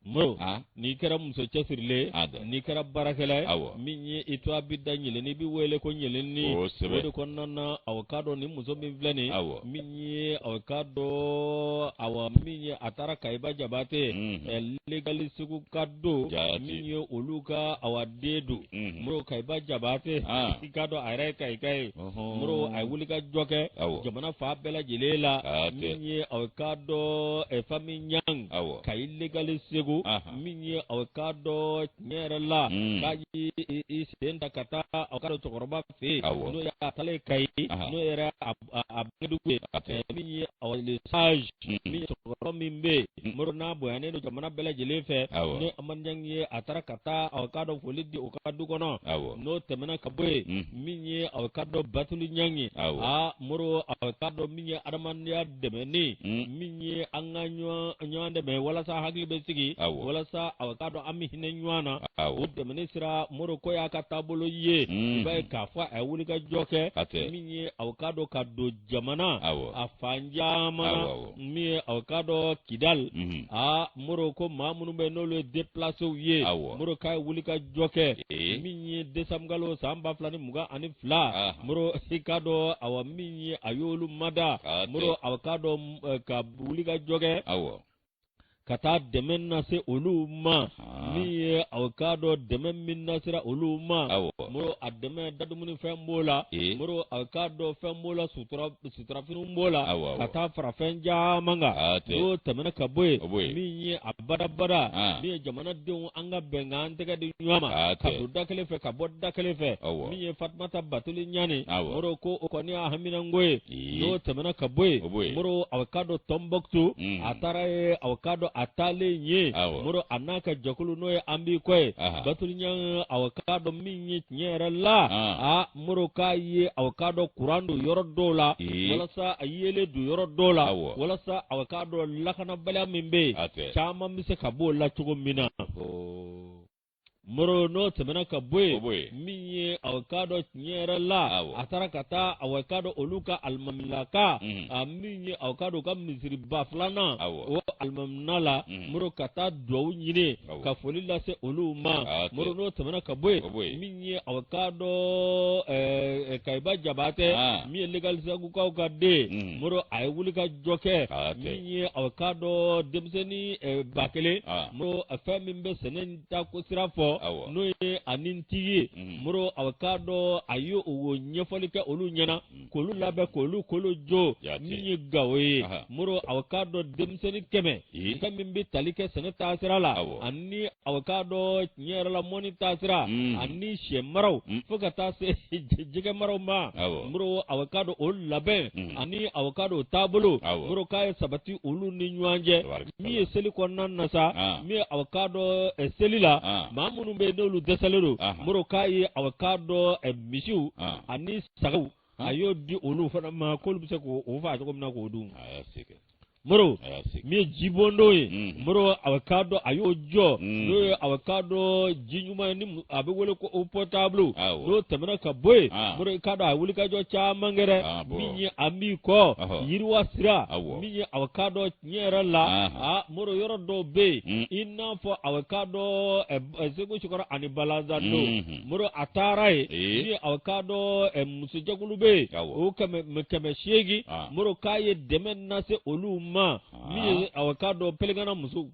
moro n'i kɛra muso cɛsirilen n'i kɛra baarakɛla ye aw min ye i tɔgɔ bɛ da ɲeleni i bɛ wele ko ɲeleni o de kɔnɔna na aw ka dɔn nin muso min filɛ nin aw min ye aw ka dɔn aw min ye a taara kayi ba jabate legali seguka don min ye olu ka aw den don Mhm. moro kayi ba jabate Ah. i k'a dɔn a yɛrɛ ye kayika ye Ɔhɔn. moro a ye wuli ka jɔ kɛ Awɔ. jamana fan bɛɛ lajɛlen la Hatɛ. min ye aw k'a dɔn eh, famille ɲang Awɔ. kayi legali segu Aha. min ye aw k'a dɔn tiɲɛ yɛrɛ la Mm. k'a y'i i- i sen ta ka taa aw k'a dɔn cɛkɔrɔba fɛ yen Awɔ. n'o ye a taalen kayi Aha. n'o yɛrɛ a a- a bangedugu ye Hatɛ. ɛɛ, min ye aw le sage Mm. min ye cɛkɔrɔba min bɛ yen Mm. moro n'a bonyanen don jamana bɛɛ lajɛlen fɛ Awɔ. n'o amadu ɲang ye a taara ka taa aw k'a dɔn foli di o ka du kɔnɔ Awɔ. n'o tɛmɛna ka bɔ yen Mm. min ye aw ka dɔn batuli ɲang ye Awɔ. aa moro aw ka dɔn min ye adamadenya dɛmɛni min ye an ka ɲɔgɔn dɛmɛ walasa hakili bɛ sigi walasa a k'a dɔn an bɛ hinɛ ɲɔgɔn na o dɛmɛni sira moro k'o y'a ka taabolo ye i b'a ye k'a fɔ a ye wuli ka jɔ kɛ min ye a k'a dɔn ka don jamana a fan caman na min ye a k'a dɔn kidali aa moro ko maa minnu bɛ n'olu ye depilasew ye moro k'a ye wuli ka jɔ kɛ min ye desanburu san ba fila ni mugan ani fila moro i k'a dɔn a min ye a y'olu mada moro a k'a dɔn eh, ka wuli ka jɔ kɛ ka taa dɛmɛ nase olu ma min ye a k'a dɔn dɛmɛ min nasera olu ma moro a dɛmɛ dadumuni fɛn b'o la moro a k'a dɔn fɛn b'o la suturafiniw b'o la ka taa fara fɛn caman kan n'o tɛmɛna ka bɔ yen min ye a badabada min ye jamanadenw an ka bɛn k'an tɛgɛ di ɲɔgɔn ma ah, ka don da kelen fɛ ka bɔ da kelen fɛ min ye fatumata batuli ɲani moro ko o kɔni y'a haminanko ye n'o tɛmɛna ka bɔ yen moro aw ka dɔn tɔnbɔkutu mm. a taara yen aw ka dɔn a taalen yen moro a n'a ka jɛkulu n'o ye an b'i kɔ ye batuli ɲani aw ka dɔn min ye tiɲɛ yɛrɛ la ah. Ah, moro k'a ye a k'a dɔn kuran don yɔrɔ dɔw la walasa a yeelen don yɔrɔ dɔw la walasa a k'a dɔn lakanabaliya min bɛ yen caman bɛ se ka b'o la cogo min na moro n'o tɛmɛna ka bɔ yen min ye a k'a dɔn tiɲɛ yɛrɛ la a taara ka taa a k'a dɔn olu ka alimamilaka a min ye a k'a dɔn u ka misiriba filanan o alimamina la moro ka taa dugawu ɲini ka foli lase olu ma moro n'o tɛmɛna ka bɔ yen ye aw k'a dɔn eh, eh, kayiba jabatɛ ah. min ye legalisagukaw ka den mm. moro a ye wuli ka jɔ kɛ ah, min ye aw k'a dɔn denmisɛnnin eh, ba kelen ah. moro fɛn min bɛ sɛnɛ in ta ko sira fɔ n'o ye ani n tigi ye mm. moro aw k'a dɔn a ye o ɲɛfɔli kɛ olu ɲɛna mm. k'olu labɛn k'olu kolo jo min ye gawo ye moro aw k'a dɔn denmisɛnnin kɛmɛ fɛn min bɛ tali kɛ sɛnɛ taasira la ani aw k'a dɔn tiɲɛ yɛrɛ la mɔni taasira mm. ani sɛ maraw mm. fo ka taa se jɛgɛ maraw ma moro aw k'a dɔn o labɛn mm. ani aw k'a dɔn o taabolo moro k'a ye sabati olu ni ɲɔgɔn cɛ min ye seli kɔnɔna na sa ah. min ye aw k'a dɔn eh, seli la ah. maa minnu bɛ yen n'olu dɛsɛlen don moro k'a ye aw k'a dɔn eh, misiw ah. ani sagaw a y'o di olu fana ma k'olu bɛ se k'o faa cogo min na k'o dun moro min ye jibondon ye mm. moro aw k'a dɔn a y'o jɔ mm. n'o ye aw k'a dɔn ji ɲuman ye ni a bɛ wele ko o pɔtabulu n'o tɛmɛna ka bɔ yen ah. moro i k'a dɔn a wulikajɔ caman kɛra ah, min ye an b'i kɔ yiriwa sira min ye aw k'a dɔn N yɛrɛ la aa moro yɔrɔ dɔw bɛ yen i n'a fɔ aw k'a dɔn segu sikɔrɔ ani balanzan do moro a taara yen min ye aw k'a dɔn musojɛkulu bɛ yen o kɛmɛ seegin moro k'a ye dɛmɛ nase olu ma min ye aw k'a dɔn pelengana muso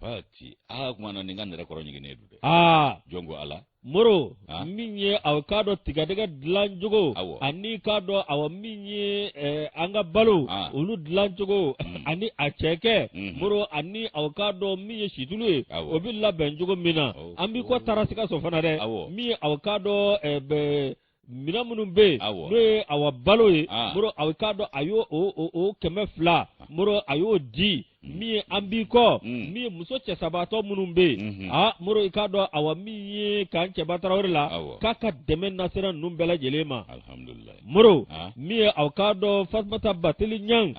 pati aa kuma na nin ka nɛrɛ kɔrɔ ɲiginnen don dɛ aa jɔn ko ala moro ah. min ye aw k'a dɔn tigadɛgɛ dilan cogo ani k'a dɔn aw min ye eh, an ka balo ah. olu dilan cogo mm. ani acɛkɛ mm. moro ani aw k'a dɔn min ye situlu ye o bɛ labɛn cogo min na oh. an b'i kɔ taara sikaso fana dɛ min ye aw k'a dɔn eh, Minɛn minnu bɛ yen n'o ye awa balo ye moro aw k'a dɔn a y'o o kɛmɛ fila moro a y'o di min ye an b'i kɔ min ye muso cɛsabaatɔ minnu bɛ yen aa moro i k'a dɔn awa min ye ka cɛba tarawele la k'a ka dɛmɛ nasera ninnu bɛɛ lajɛlen ma moro min ye aw k'a dɔn fatumata batuli ɲan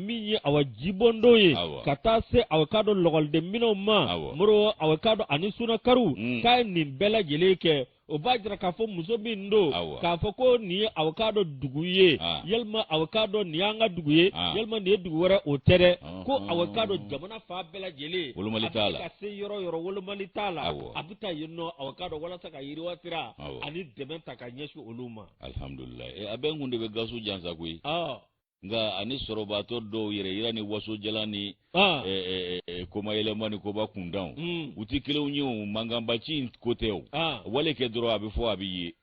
min ye awa jibondon ye ka taa se aw k'a dɔn lɔkɔliden minɛnw ma moro aw k'a dɔn ani sunakari k'a ye nin bɛɛ lajɛlen kɛ o b'a jira k'a fɔ muso min don k'a fɔ ko nin ye aw k'a dɔn dugu ye ah. walima aw k'a dɔn nin y'an ka dugu ye ah. walima nin ye dugu wɛrɛ o tɛ dɛ ah. ko aw k'a dɔn jamana fan bɛɛ lajɛlen a bɛ ka se yɔrɔ yɔrɔ wolomali t'a la a bɛ taa yen nɔ aw k'a dɔn walasa ka yiriwa sira ani dɛmɛ ta ka ɲɛsin olu ma alihamudulila eh, a bɛ n kun de bɛ gaso jansa koyi nka ani sɔrɔbaatɔ dɔw yɛrɛyira ni wasojalan ni ah. eh, eh, eh, komayɛlɛma ni koba kuntanw hmm. u tɛ kelenw ye o mankanbaci in ko tɛ o ah. wale kɛ dɔrɔn a bɛ fɔ a bɛ ye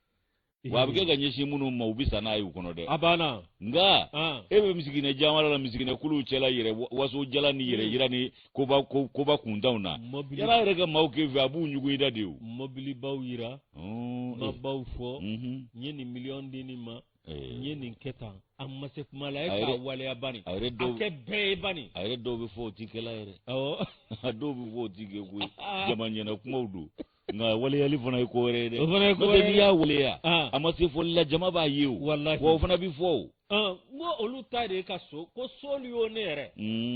wa a bɛ kɛ ka ɲɛsin minnu ma u bɛ sa n'a ye u kɔnɔ dɛ a banna nka ah. e bɛ misiginɛ jamana la misiginɛ kuluw cɛla yɛrɛ wasojalan ni yɛrɛ hmm. yira ni koba kuntanw na yala yɛrɛ ka maaw kɛ fɛ a b'u ɲugu i da de o mɔbilibaw yira oh, mabaw fɔ mhm. n ye nin miliyɔn di nin ma n ye nin kɛ tan a ma se kuma la e k'a waleya bani a kɛ bɛɛ ye bani a yɛrɛ dɔw bɛ fɔ o ti kɛla yɛrɛ awɔ a dɔw bɛ fɔ o ti kɛ koyi jama ɲɛna kumaw don nka waleyali fana ye ko wɛrɛ ye dɛ o fana ye ko wɛrɛ ye n'i y'a waleya a ma se fɔli la jama b'a ye o walahi wa o fana bɛ fɔ o n ko olu ta de ye ka so ko soliyo ne yɛrɛ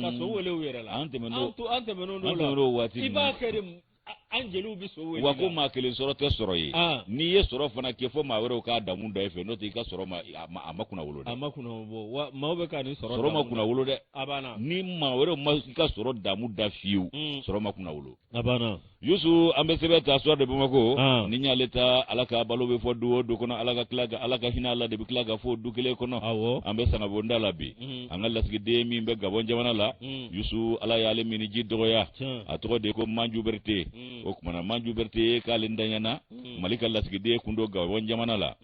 ka so wele u yɛrɛ la an tɛmɛn'o an tɛmɛn'o la an tɛmɛn'o waati i b'a kɛ de an jeliw bɛ so wele wa ko maa kelen sɔrɔ tɛ sɔrɔ ye ah. n'i ye sɔrɔ fana kɛ fo maa wɛrɛw k'a damu da i fɛ n'o tɛ i ka sɔrɔ ma a ma kunna wolo dɛ a ma kunna wolo wa maaw bɛ ka nin sɔrɔ sɔrɔ ma kunna wolo dɛ a banna ni maa wɛrɛw ma i ka sɔrɔ damu da fiyewu hmm. sɔrɔ ma kunna wolo a banna yusu an bɛ sɛbɛn ta suwa de bamakɔ ah. ni y'ale ta ala k'a balo bɛ fɔ du o du kɔnɔ ala ka tila ka ala ka hinɛ a la de bɛ tila ka fɔ du kelen kɔnɔ awɔ an bɛ sangabonda la bi an ka lasigiden min bɛ gabɔn jamana la yusu ala y'ale minniji dɔgɔya a tɔgɔ de ye ko manju berete o kuma na manju berete k'ale ntanya na mali ka lasigiden kun don gabɔn jamana la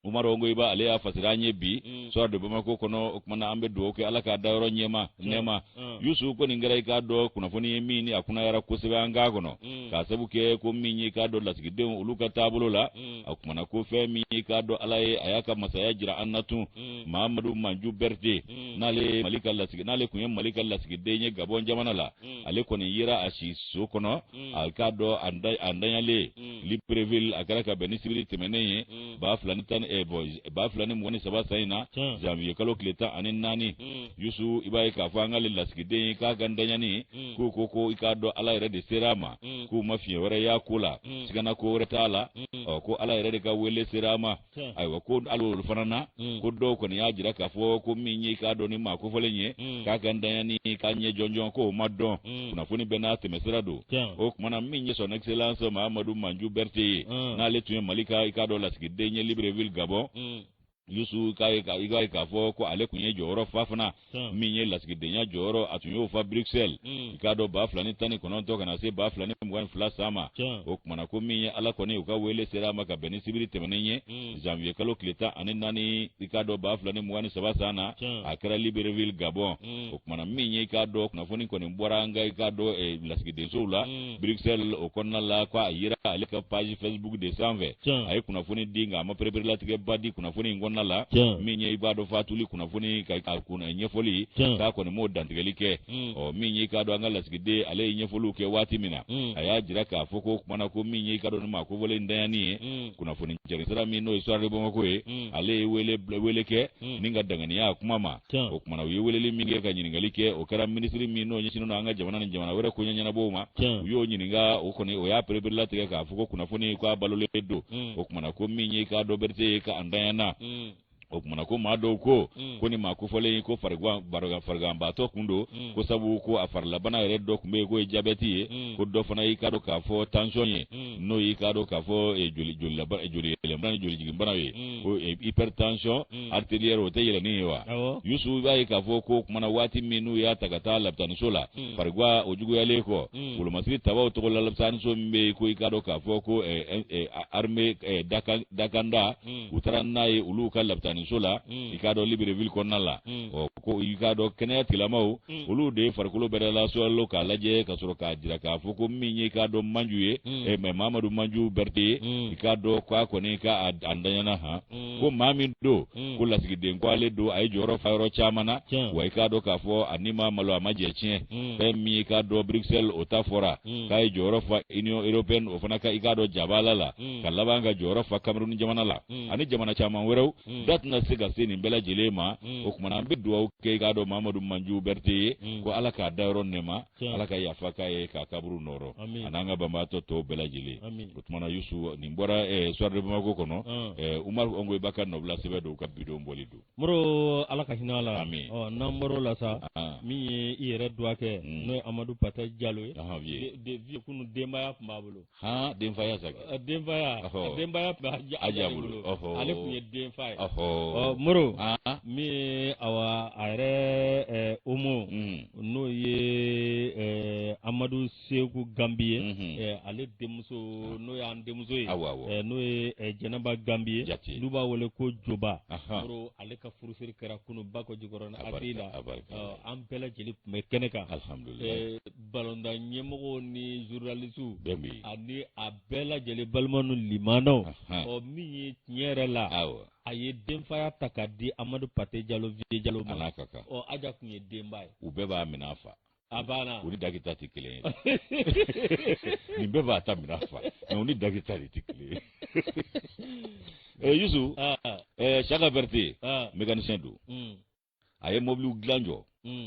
umaru ngoyiba ale y'a fasira an ye bi sɔrɔ de bamakɔ kɔnɔ o kuma na an bɛ dugawu kɛ ala k'a dayɔrɔ ɲɛma nɛɛma mm. yusu ko nin kɛra i k'a dɔn kunnafoni ye min ni a kunayara kosɛbɛ an ka kɔnɔ mm. k'a sabu kɛ ko min ye i k'a dɔn lasigidenw olu ka taabolo la mm. a kumana ko fɛn min ye i k'a dɔn ala ye a y'a ka masaya jira an na tun mahamadu manju berete n'ale mali ka lasigi n'ale kun ye mali ka lasigiden ye gabɔn jamana la ale kɔni yera a si so kɔnɔ a k'a dɔn a ntanyalen libreville a kɛra ka bɛn ni sibiri tɛmɛnen ye ba fila ni tan ni eh, bɔn ba fila ni mugan ni saba san in na janvier kalo tile tan ani naani yusu i b'a ye k'a fɔ an ka le lasigiden ye k'a ka ntanyani k'u ko ko i k'a dɔn ala yɛrɛ de sera a ma k'u ma fiɲɛ wɛrɛ y'a ko la sigana ko wɛrɛ t'a la ɔ ko ala yɛrɛ de ka wele sera a ma ayiwa ko hali olu fana na ko dɔw kɔni y'a jira k'a fɔ ko min ye i k'a dɔn nin maa kofɔlen ye k'a ka ntanyani k'a ɲɛ jɔnjɔn k'o ma dɔn mm. kunnafoni bɛɛ n'a tɛmɛsira don o kumana min ye son excellence mahamadu manju berete ye mm. n'ale tun ye mali ka i k'a dɔn lasigiden ye libreville gabɔn mm. yusu k'a ye i b'a ye k'a fɔ ko ale tun ye jɔyɔrɔ fa fana min ye lasigidenya jɔyɔrɔ a tun y'o fa bruxelles hmm. i k'a dɔn ba fila ni tan ni kɔnɔntɔn ka na se ba fila ni mugan ni fila san ma o kumana ko min ye ala kɔni o ka wele sera a ma ka bɛn ni sibiri tɛmɛnen ye hmm. janvier kalo tile tan ani naani i k'a dɔn ba fila ni mugan ni saba san na a kɛra libreville gabɔn mm. o kumana min ye i k'a dɔn kunnafoni kɔni bɔra an ka i k'a dɔn eh, lasigidensow la mm. bruxelles o kɔnɔna la ko a yira ale ka page facebook de sanfɛ a ye kunnafoni di nka a ma pereperelatigɛba di kunnafoni in kɔnɔna la min ye i b'a dɔn fatuli kunnafoni ka a kunna ɲɛfɔli k'a kɔni m'o dantigɛli kɛ mm. ɔ min ye i k'a dɔn an ka lasigiden ale ye ɲɛfɔliw kɛ waati min na a y'a jira k'a fɔ ko kumana ko min ye i k'a dɔn nin maa kofɔlen ntanyani ye kunnafoni jɛnsira min n'o ye soir de bamako ye ale ye wele wele kɛ hmm. ni ka danganiya a kuma ma o kumana u ye weleli min kɛ ka ɲininkali kɛ o kɛra minisiri min n'o ɲɛsinnen don an ka jamana ni jamana wɛrɛ koɲɛ ɲɛnabɔw ma u y'o ɲininka o kɔni o y'a pereperelatigɛ k'a fɔ ko kunnafoni k'a balolen don hmm. o kumana ko min ye k'a dɔn berete ye k'a ntanyana hmm. o kumana ko maa dɔw ko mm. ko nin maa kofɔlen ko fariganbaatɔ kun don mm. ko sabu ko a farilabana yɛrɛ dɔ kun bɛ yen k'o ye jabɛti ye mm. ko dɔ fana y'i k'a dɔn k'a fɔ tension ye n'o y'i k'a dɔn k'a fɔ eh, joliyɛlɛnbana ni jolijiginbana ye ko eh, hypertension mm. artérielle o tɛ yɛlɛnni ye wa yusu b'a ye k'a fɔ ko kumana waati min n'u y'a ta ka taa labitaniso la mm. farigan o juguyalen kɔ mm. wolomasiri tabaw tɔgɔ la labitaniso min bɛ ko i k'a dɔn k'a fɔ ko eh, eh, armée dakanda u taara n'a ye olu ka labitaniso la i k'a dɔn libreville kɔnɔna la ɔ ko i k'a dɔn kɛnɛya tigilamaw Mm. olu de ye farikolo bɛɛ lasɔrɔ k'a lajɛ ka sɔrɔ k'a jira k'a fɔ ko min ye k'a dɔn manju ye mm. eh, mɛ mamadu manju berete ye mm. i k'a dɔn ko a kɔni k'a ntanyana han ko maa min don ko lasigiden ko ale don a ye jɔyɔrɔ fa yɔrɔ caman na wa i k'a dɔn k'a fɔ ani ma malo a ma jɛ tiɲɛ fɛn min ye k'a dɔn bruxelles o ta fɔra k'a ye jɔyɔrɔ fa union européenne o fana ka i k'a dɔn jabala la ka laban ka jɔyɔrɔ fa cameroun jamana la ani jamana caman wɛrɛw hmm. da tɛna se ka se nin bɛɛ lajɛlen ma hmm. o kumana an bɛ dugawu kɛ k'a dɔn mamadu manju berete ye hmm. ko ala k'a da yɔrɔ nɛɛma ala ka yafa k'a ye k'a kaburu nɔɔrɔ a n'an ka banbaatɔ tɔw bɛɛ lajɛlen o tumana yusu nin bɔra eh, soir de bamako kɔnɔ ah. eh, umaru ɔngoyiba ka nɔbila sɛbɛn don ka bi don bɔli don moro ala ka hinɛ a la n'an bɔr'o la sa ah. min ye i yɛrɛ dɔgɔkɛ n'o ye amadu pate jalo ye dit vieux kunu denbaya tun b'a bolo han denfaya zaki a denfaya a denbaya tun bɛ aja bolo ale tun ye denfa ye ɔ moro min ye awa a yɛrɛ eh, homo mm. n'o ye eh, amadu seku gambi ye mm-hmm. eh, ale denmuso n'o y'an denmuso ye n'o ye jɛnɛba gambi ye n'u b'a wele ko joba moro ale ka furusiri kɛra kunu bakɔ jikɔrɔni aci la an bɛɛ lajɛlen tun bɛ kɛnɛ kan balontan ɲɛmɔgɔw ni zurunalisiw ani a bɛɛ lajɛlen balima ni limanaw ɔ min ye tiɲɛ yɛrɛ la a ye denfaya ta k'a di amadu pate jalo vieux jalo ma ɔ aja tun ye denba ye u bɛɛ b'a minɛ a fa a banna u ni dagita tɛ kelen ye nin bɛɛ b'a ta minɛ a fa mɛ u ni dagita de tɛ kelen ye eh, yusu ah. eh, saka berete ah. mécanicien don hmm. a ye mɔbiliw dilan jɔ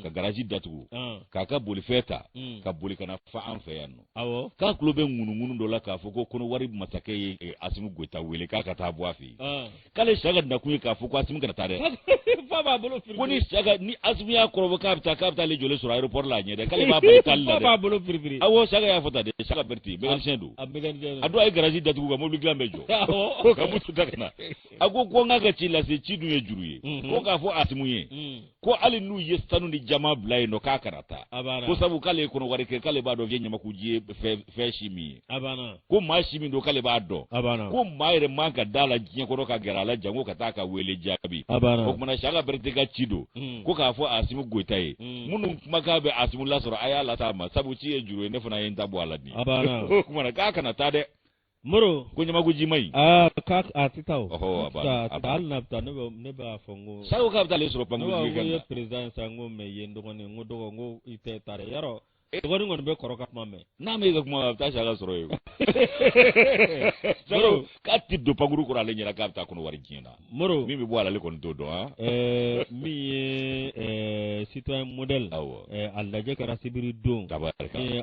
ka garaji datugu k'a ka bolifɛn ta ka boli ka na fo an fɛ yan nɔ k'a tulo bɛ ŋunuŋunu dɔ la k'a fɔ ko kɔnɔwari masakɛ ye e, asimu goyita wele k'a ka taa bɔ a fɛ yen k'ale saka nakun ye k'a fɔ ko asimu kana taa dɛ ko ni saka ni asimu y'a kɔrɔbɔ k'a bɛ taa k'a bɛ taa ale jɔlen sɔrɔ aéroport la a ɲɛ dɛ k'ale b'a bali taali la dɛ awɔ saka y'a fɔ tan dɛ saka berete mécanicien don a don a ye garaji datugu ka mobili dilan bɛɛ jɔ ka moto ta ka na a ko ko n k'a ka ci lase ci dun ye juru ye mhm. ko k'a fɔ asimu ye mm. ko hali n'u ye sanu ni jaman bila yen nɔ k'a kana taa ko sabu k'ale ye kɔnɔwari kɛ k'ale b'a dɔn k'e ɲamakuji ye fɛn si min ye ko maa si min don k'ale b'a dɔn ko maa yɛrɛ man ka d'a la diɲɛ kɔnɔ ka gɛrɛ a la janko ka taa ka wele jaabi o tumana saka berete ka ci don mm. ko k'a fɔ asimu goyita ye mm. minnu kumakan bɛ asimu lasɔrɔ a y'a lase a ma sabu ci ye juru ye ne fana ye n ta bɔ a la nin o tumana k'a kana taa dɛ moro ko ɲamakuji ma ɲi. aa k'a a tɛ taa o. ɔhɔ a b'a la a b'a la hali n'a bɛ taa ne bɛ ne b'a fɔ n ko. saka k'a bɛ taa ale sɔrɔ pankurun jiginkɛnɛ na. ne b'a fɔ n ko i ye perezidan ye sa n ko mɛ i ye n dɔgɔnin n ko dɔgɔ n ko i tɛ taa dɛ yarɔ e dɔgɔnin kɔni bɛ kɔrɔ ka kuma mɛn. n'a ma e ka kuma a bɛ taa saka sɔrɔ yen. moro k'a tɛ don pankurun kɔnɔ ale ɲɛna k'a bɛ taa kɔnɔwari diɲɛ na. moro min bɛ bɔ a la ale kɔni t'o dɔn eh, min ye eh, citoyen modèle a lajɛ kɛra sibiri don ka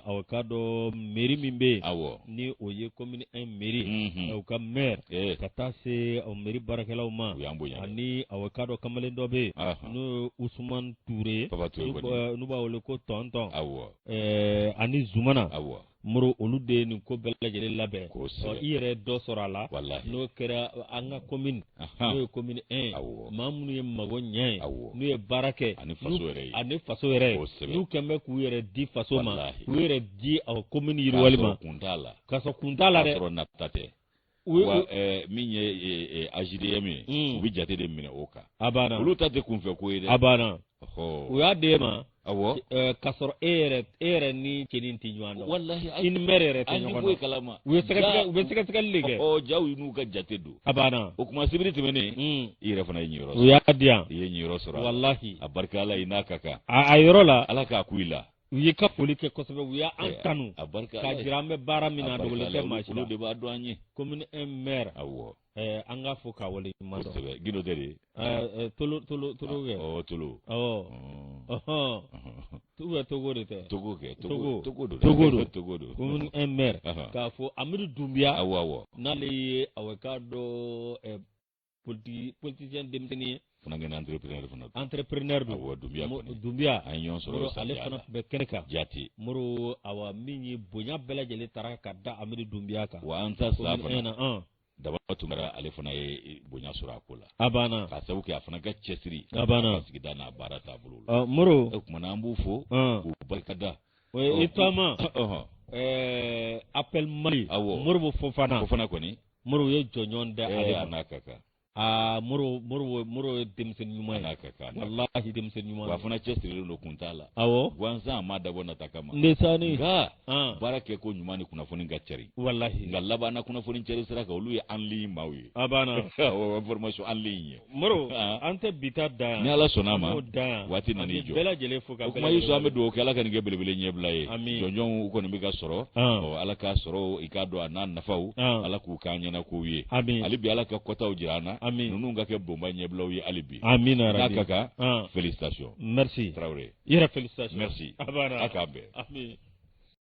aw k'a dɔn mairie min bɛ yen aw ni o ye commune un mairie mhm. o ka maire eh. ka taa se o mairie baarakɛlaw ma ani aw k'a dɔn kamalen dɔ bɛ yen n'o ye usuman ture n'u b'a wele ko tɔntɔn aw ani zumana aw moro olu de ye nin ko bɛɛ lajɛlen labɛn i yɛrɛ dɔ sɔrɔ a la n'o kɛra an ka komini n'o ye komini 1 maa minnu ye mago ɲɛ ye n'u ye baara kɛ ani faso yɛrɛ ye n'u kɛn bɛ k'u yɛrɛ di faso ma k'u yɛrɛ di komini yiriwali ma k'a sɔrɔ kun t'a la dɛ wa eh, min ye eh, eh, AJDM ye mm. u bɛ jate de minɛ o kan a banna olu ta tɛ kunfɛ ko ye dɛ a banna u y'a d'e ma awɔ k'a sɔrɔ e yɛrɛ e yɛrɛ ni cɛnin tɛ ɲɔgɔn dɔn walahi i ni mɛri yɛrɛ tɛ ɲɔgɔn dɔn u ye sɛgɛsɛgɛ u bɛ sɛgɛsɛgɛli de kɛ ɔ jaw n'u ka jate don a banna o kuma sibiri tɛmɛnen mm. i yɛrɛ fana ye niyɔrɔ sɔrɔ u y'a di yan i ye niyɔrɔ sɔrɔ walahi a barika Ala ye n'a ka kan a yɔrɔ la Ala k'a ku i la u y'i ka foli kɛ kosɛbɛ u y'an tanu k'a jira an bɛ baara min na dogolen tɛ maa si la olu de b'a dɔn an ye commune un maire awɔ an k'a fo k'a waleɲumandɔn kosɛbɛ gindo tɛ de tolo tolo tolo kɛ ɔ tolo awɔ u bɛ togo de tɛ togo kɛ togo togo don togo don togo don commune un maire k'a fɔ amidu dunbiya awɔ awɔ n'ale ye awɔ k'a dɔn politique politicien denmisɛnnin ye fana kɛra entrepreneur fana don entrepreneur don awɔ dunbiya kɔni dunbiya an ye ɲɔgɔn sɔrɔ ale fana tun bɛ kɛnɛ kan jate moro awa min ye bonya bɛɛ lajɛlen taara ka da amidu dunbiya kan wa an ta sa fana daba tunkara ale fana ye bonya sɔrɔ a ko la a banna k'a sabu kɛ a fana ka cɛsiri a banna ka sigida n'a baara taabolo la moro o kuma na an b'u fo k'u barikada i taama appel mali awɔ modibo fofana fofana kɔni moro ye jɔnjɔn da ale eh, n'a ka kan aa moro moro moro ye denmisɛnni ɲuman n'a ka kan walahi denmisɛnni ɲuman wa fana cɛsirilen don kun t'a la awɔ gansan a ma dabɔ nata kama ndesani nka ah. baara kɛ ko ɲuman ni kunnafoni ka cari walahi nka labanna kunnafoni cari sira kan olu ye en ligne maaw ye a banna awɔ information en ligne ye moro ah. an tɛ bi ta dan ni ala sɔnna a ma waati nana i jɔ bɛɛ lajɛlen fo ka o kuma yusu an bɛ dugawu kɛ ala ka nin kɛ belebele ɲɛbila ye jɔnjɔnw u kɔni bɛ ka sɔrɔ ah. ɔ ala k'a sɔrɔ i k'a dɔn a n'a nafaw ah. ala k'u k'an ɲɛna kow ye hali bi ala ka kɔtaw jira an na ninnu ka kɛ bonba ɲɛbilaw ye hali bi n'a ka kan ah. félicitation merci tarawele i yɛrɛ félicitation merci a k'an bɛn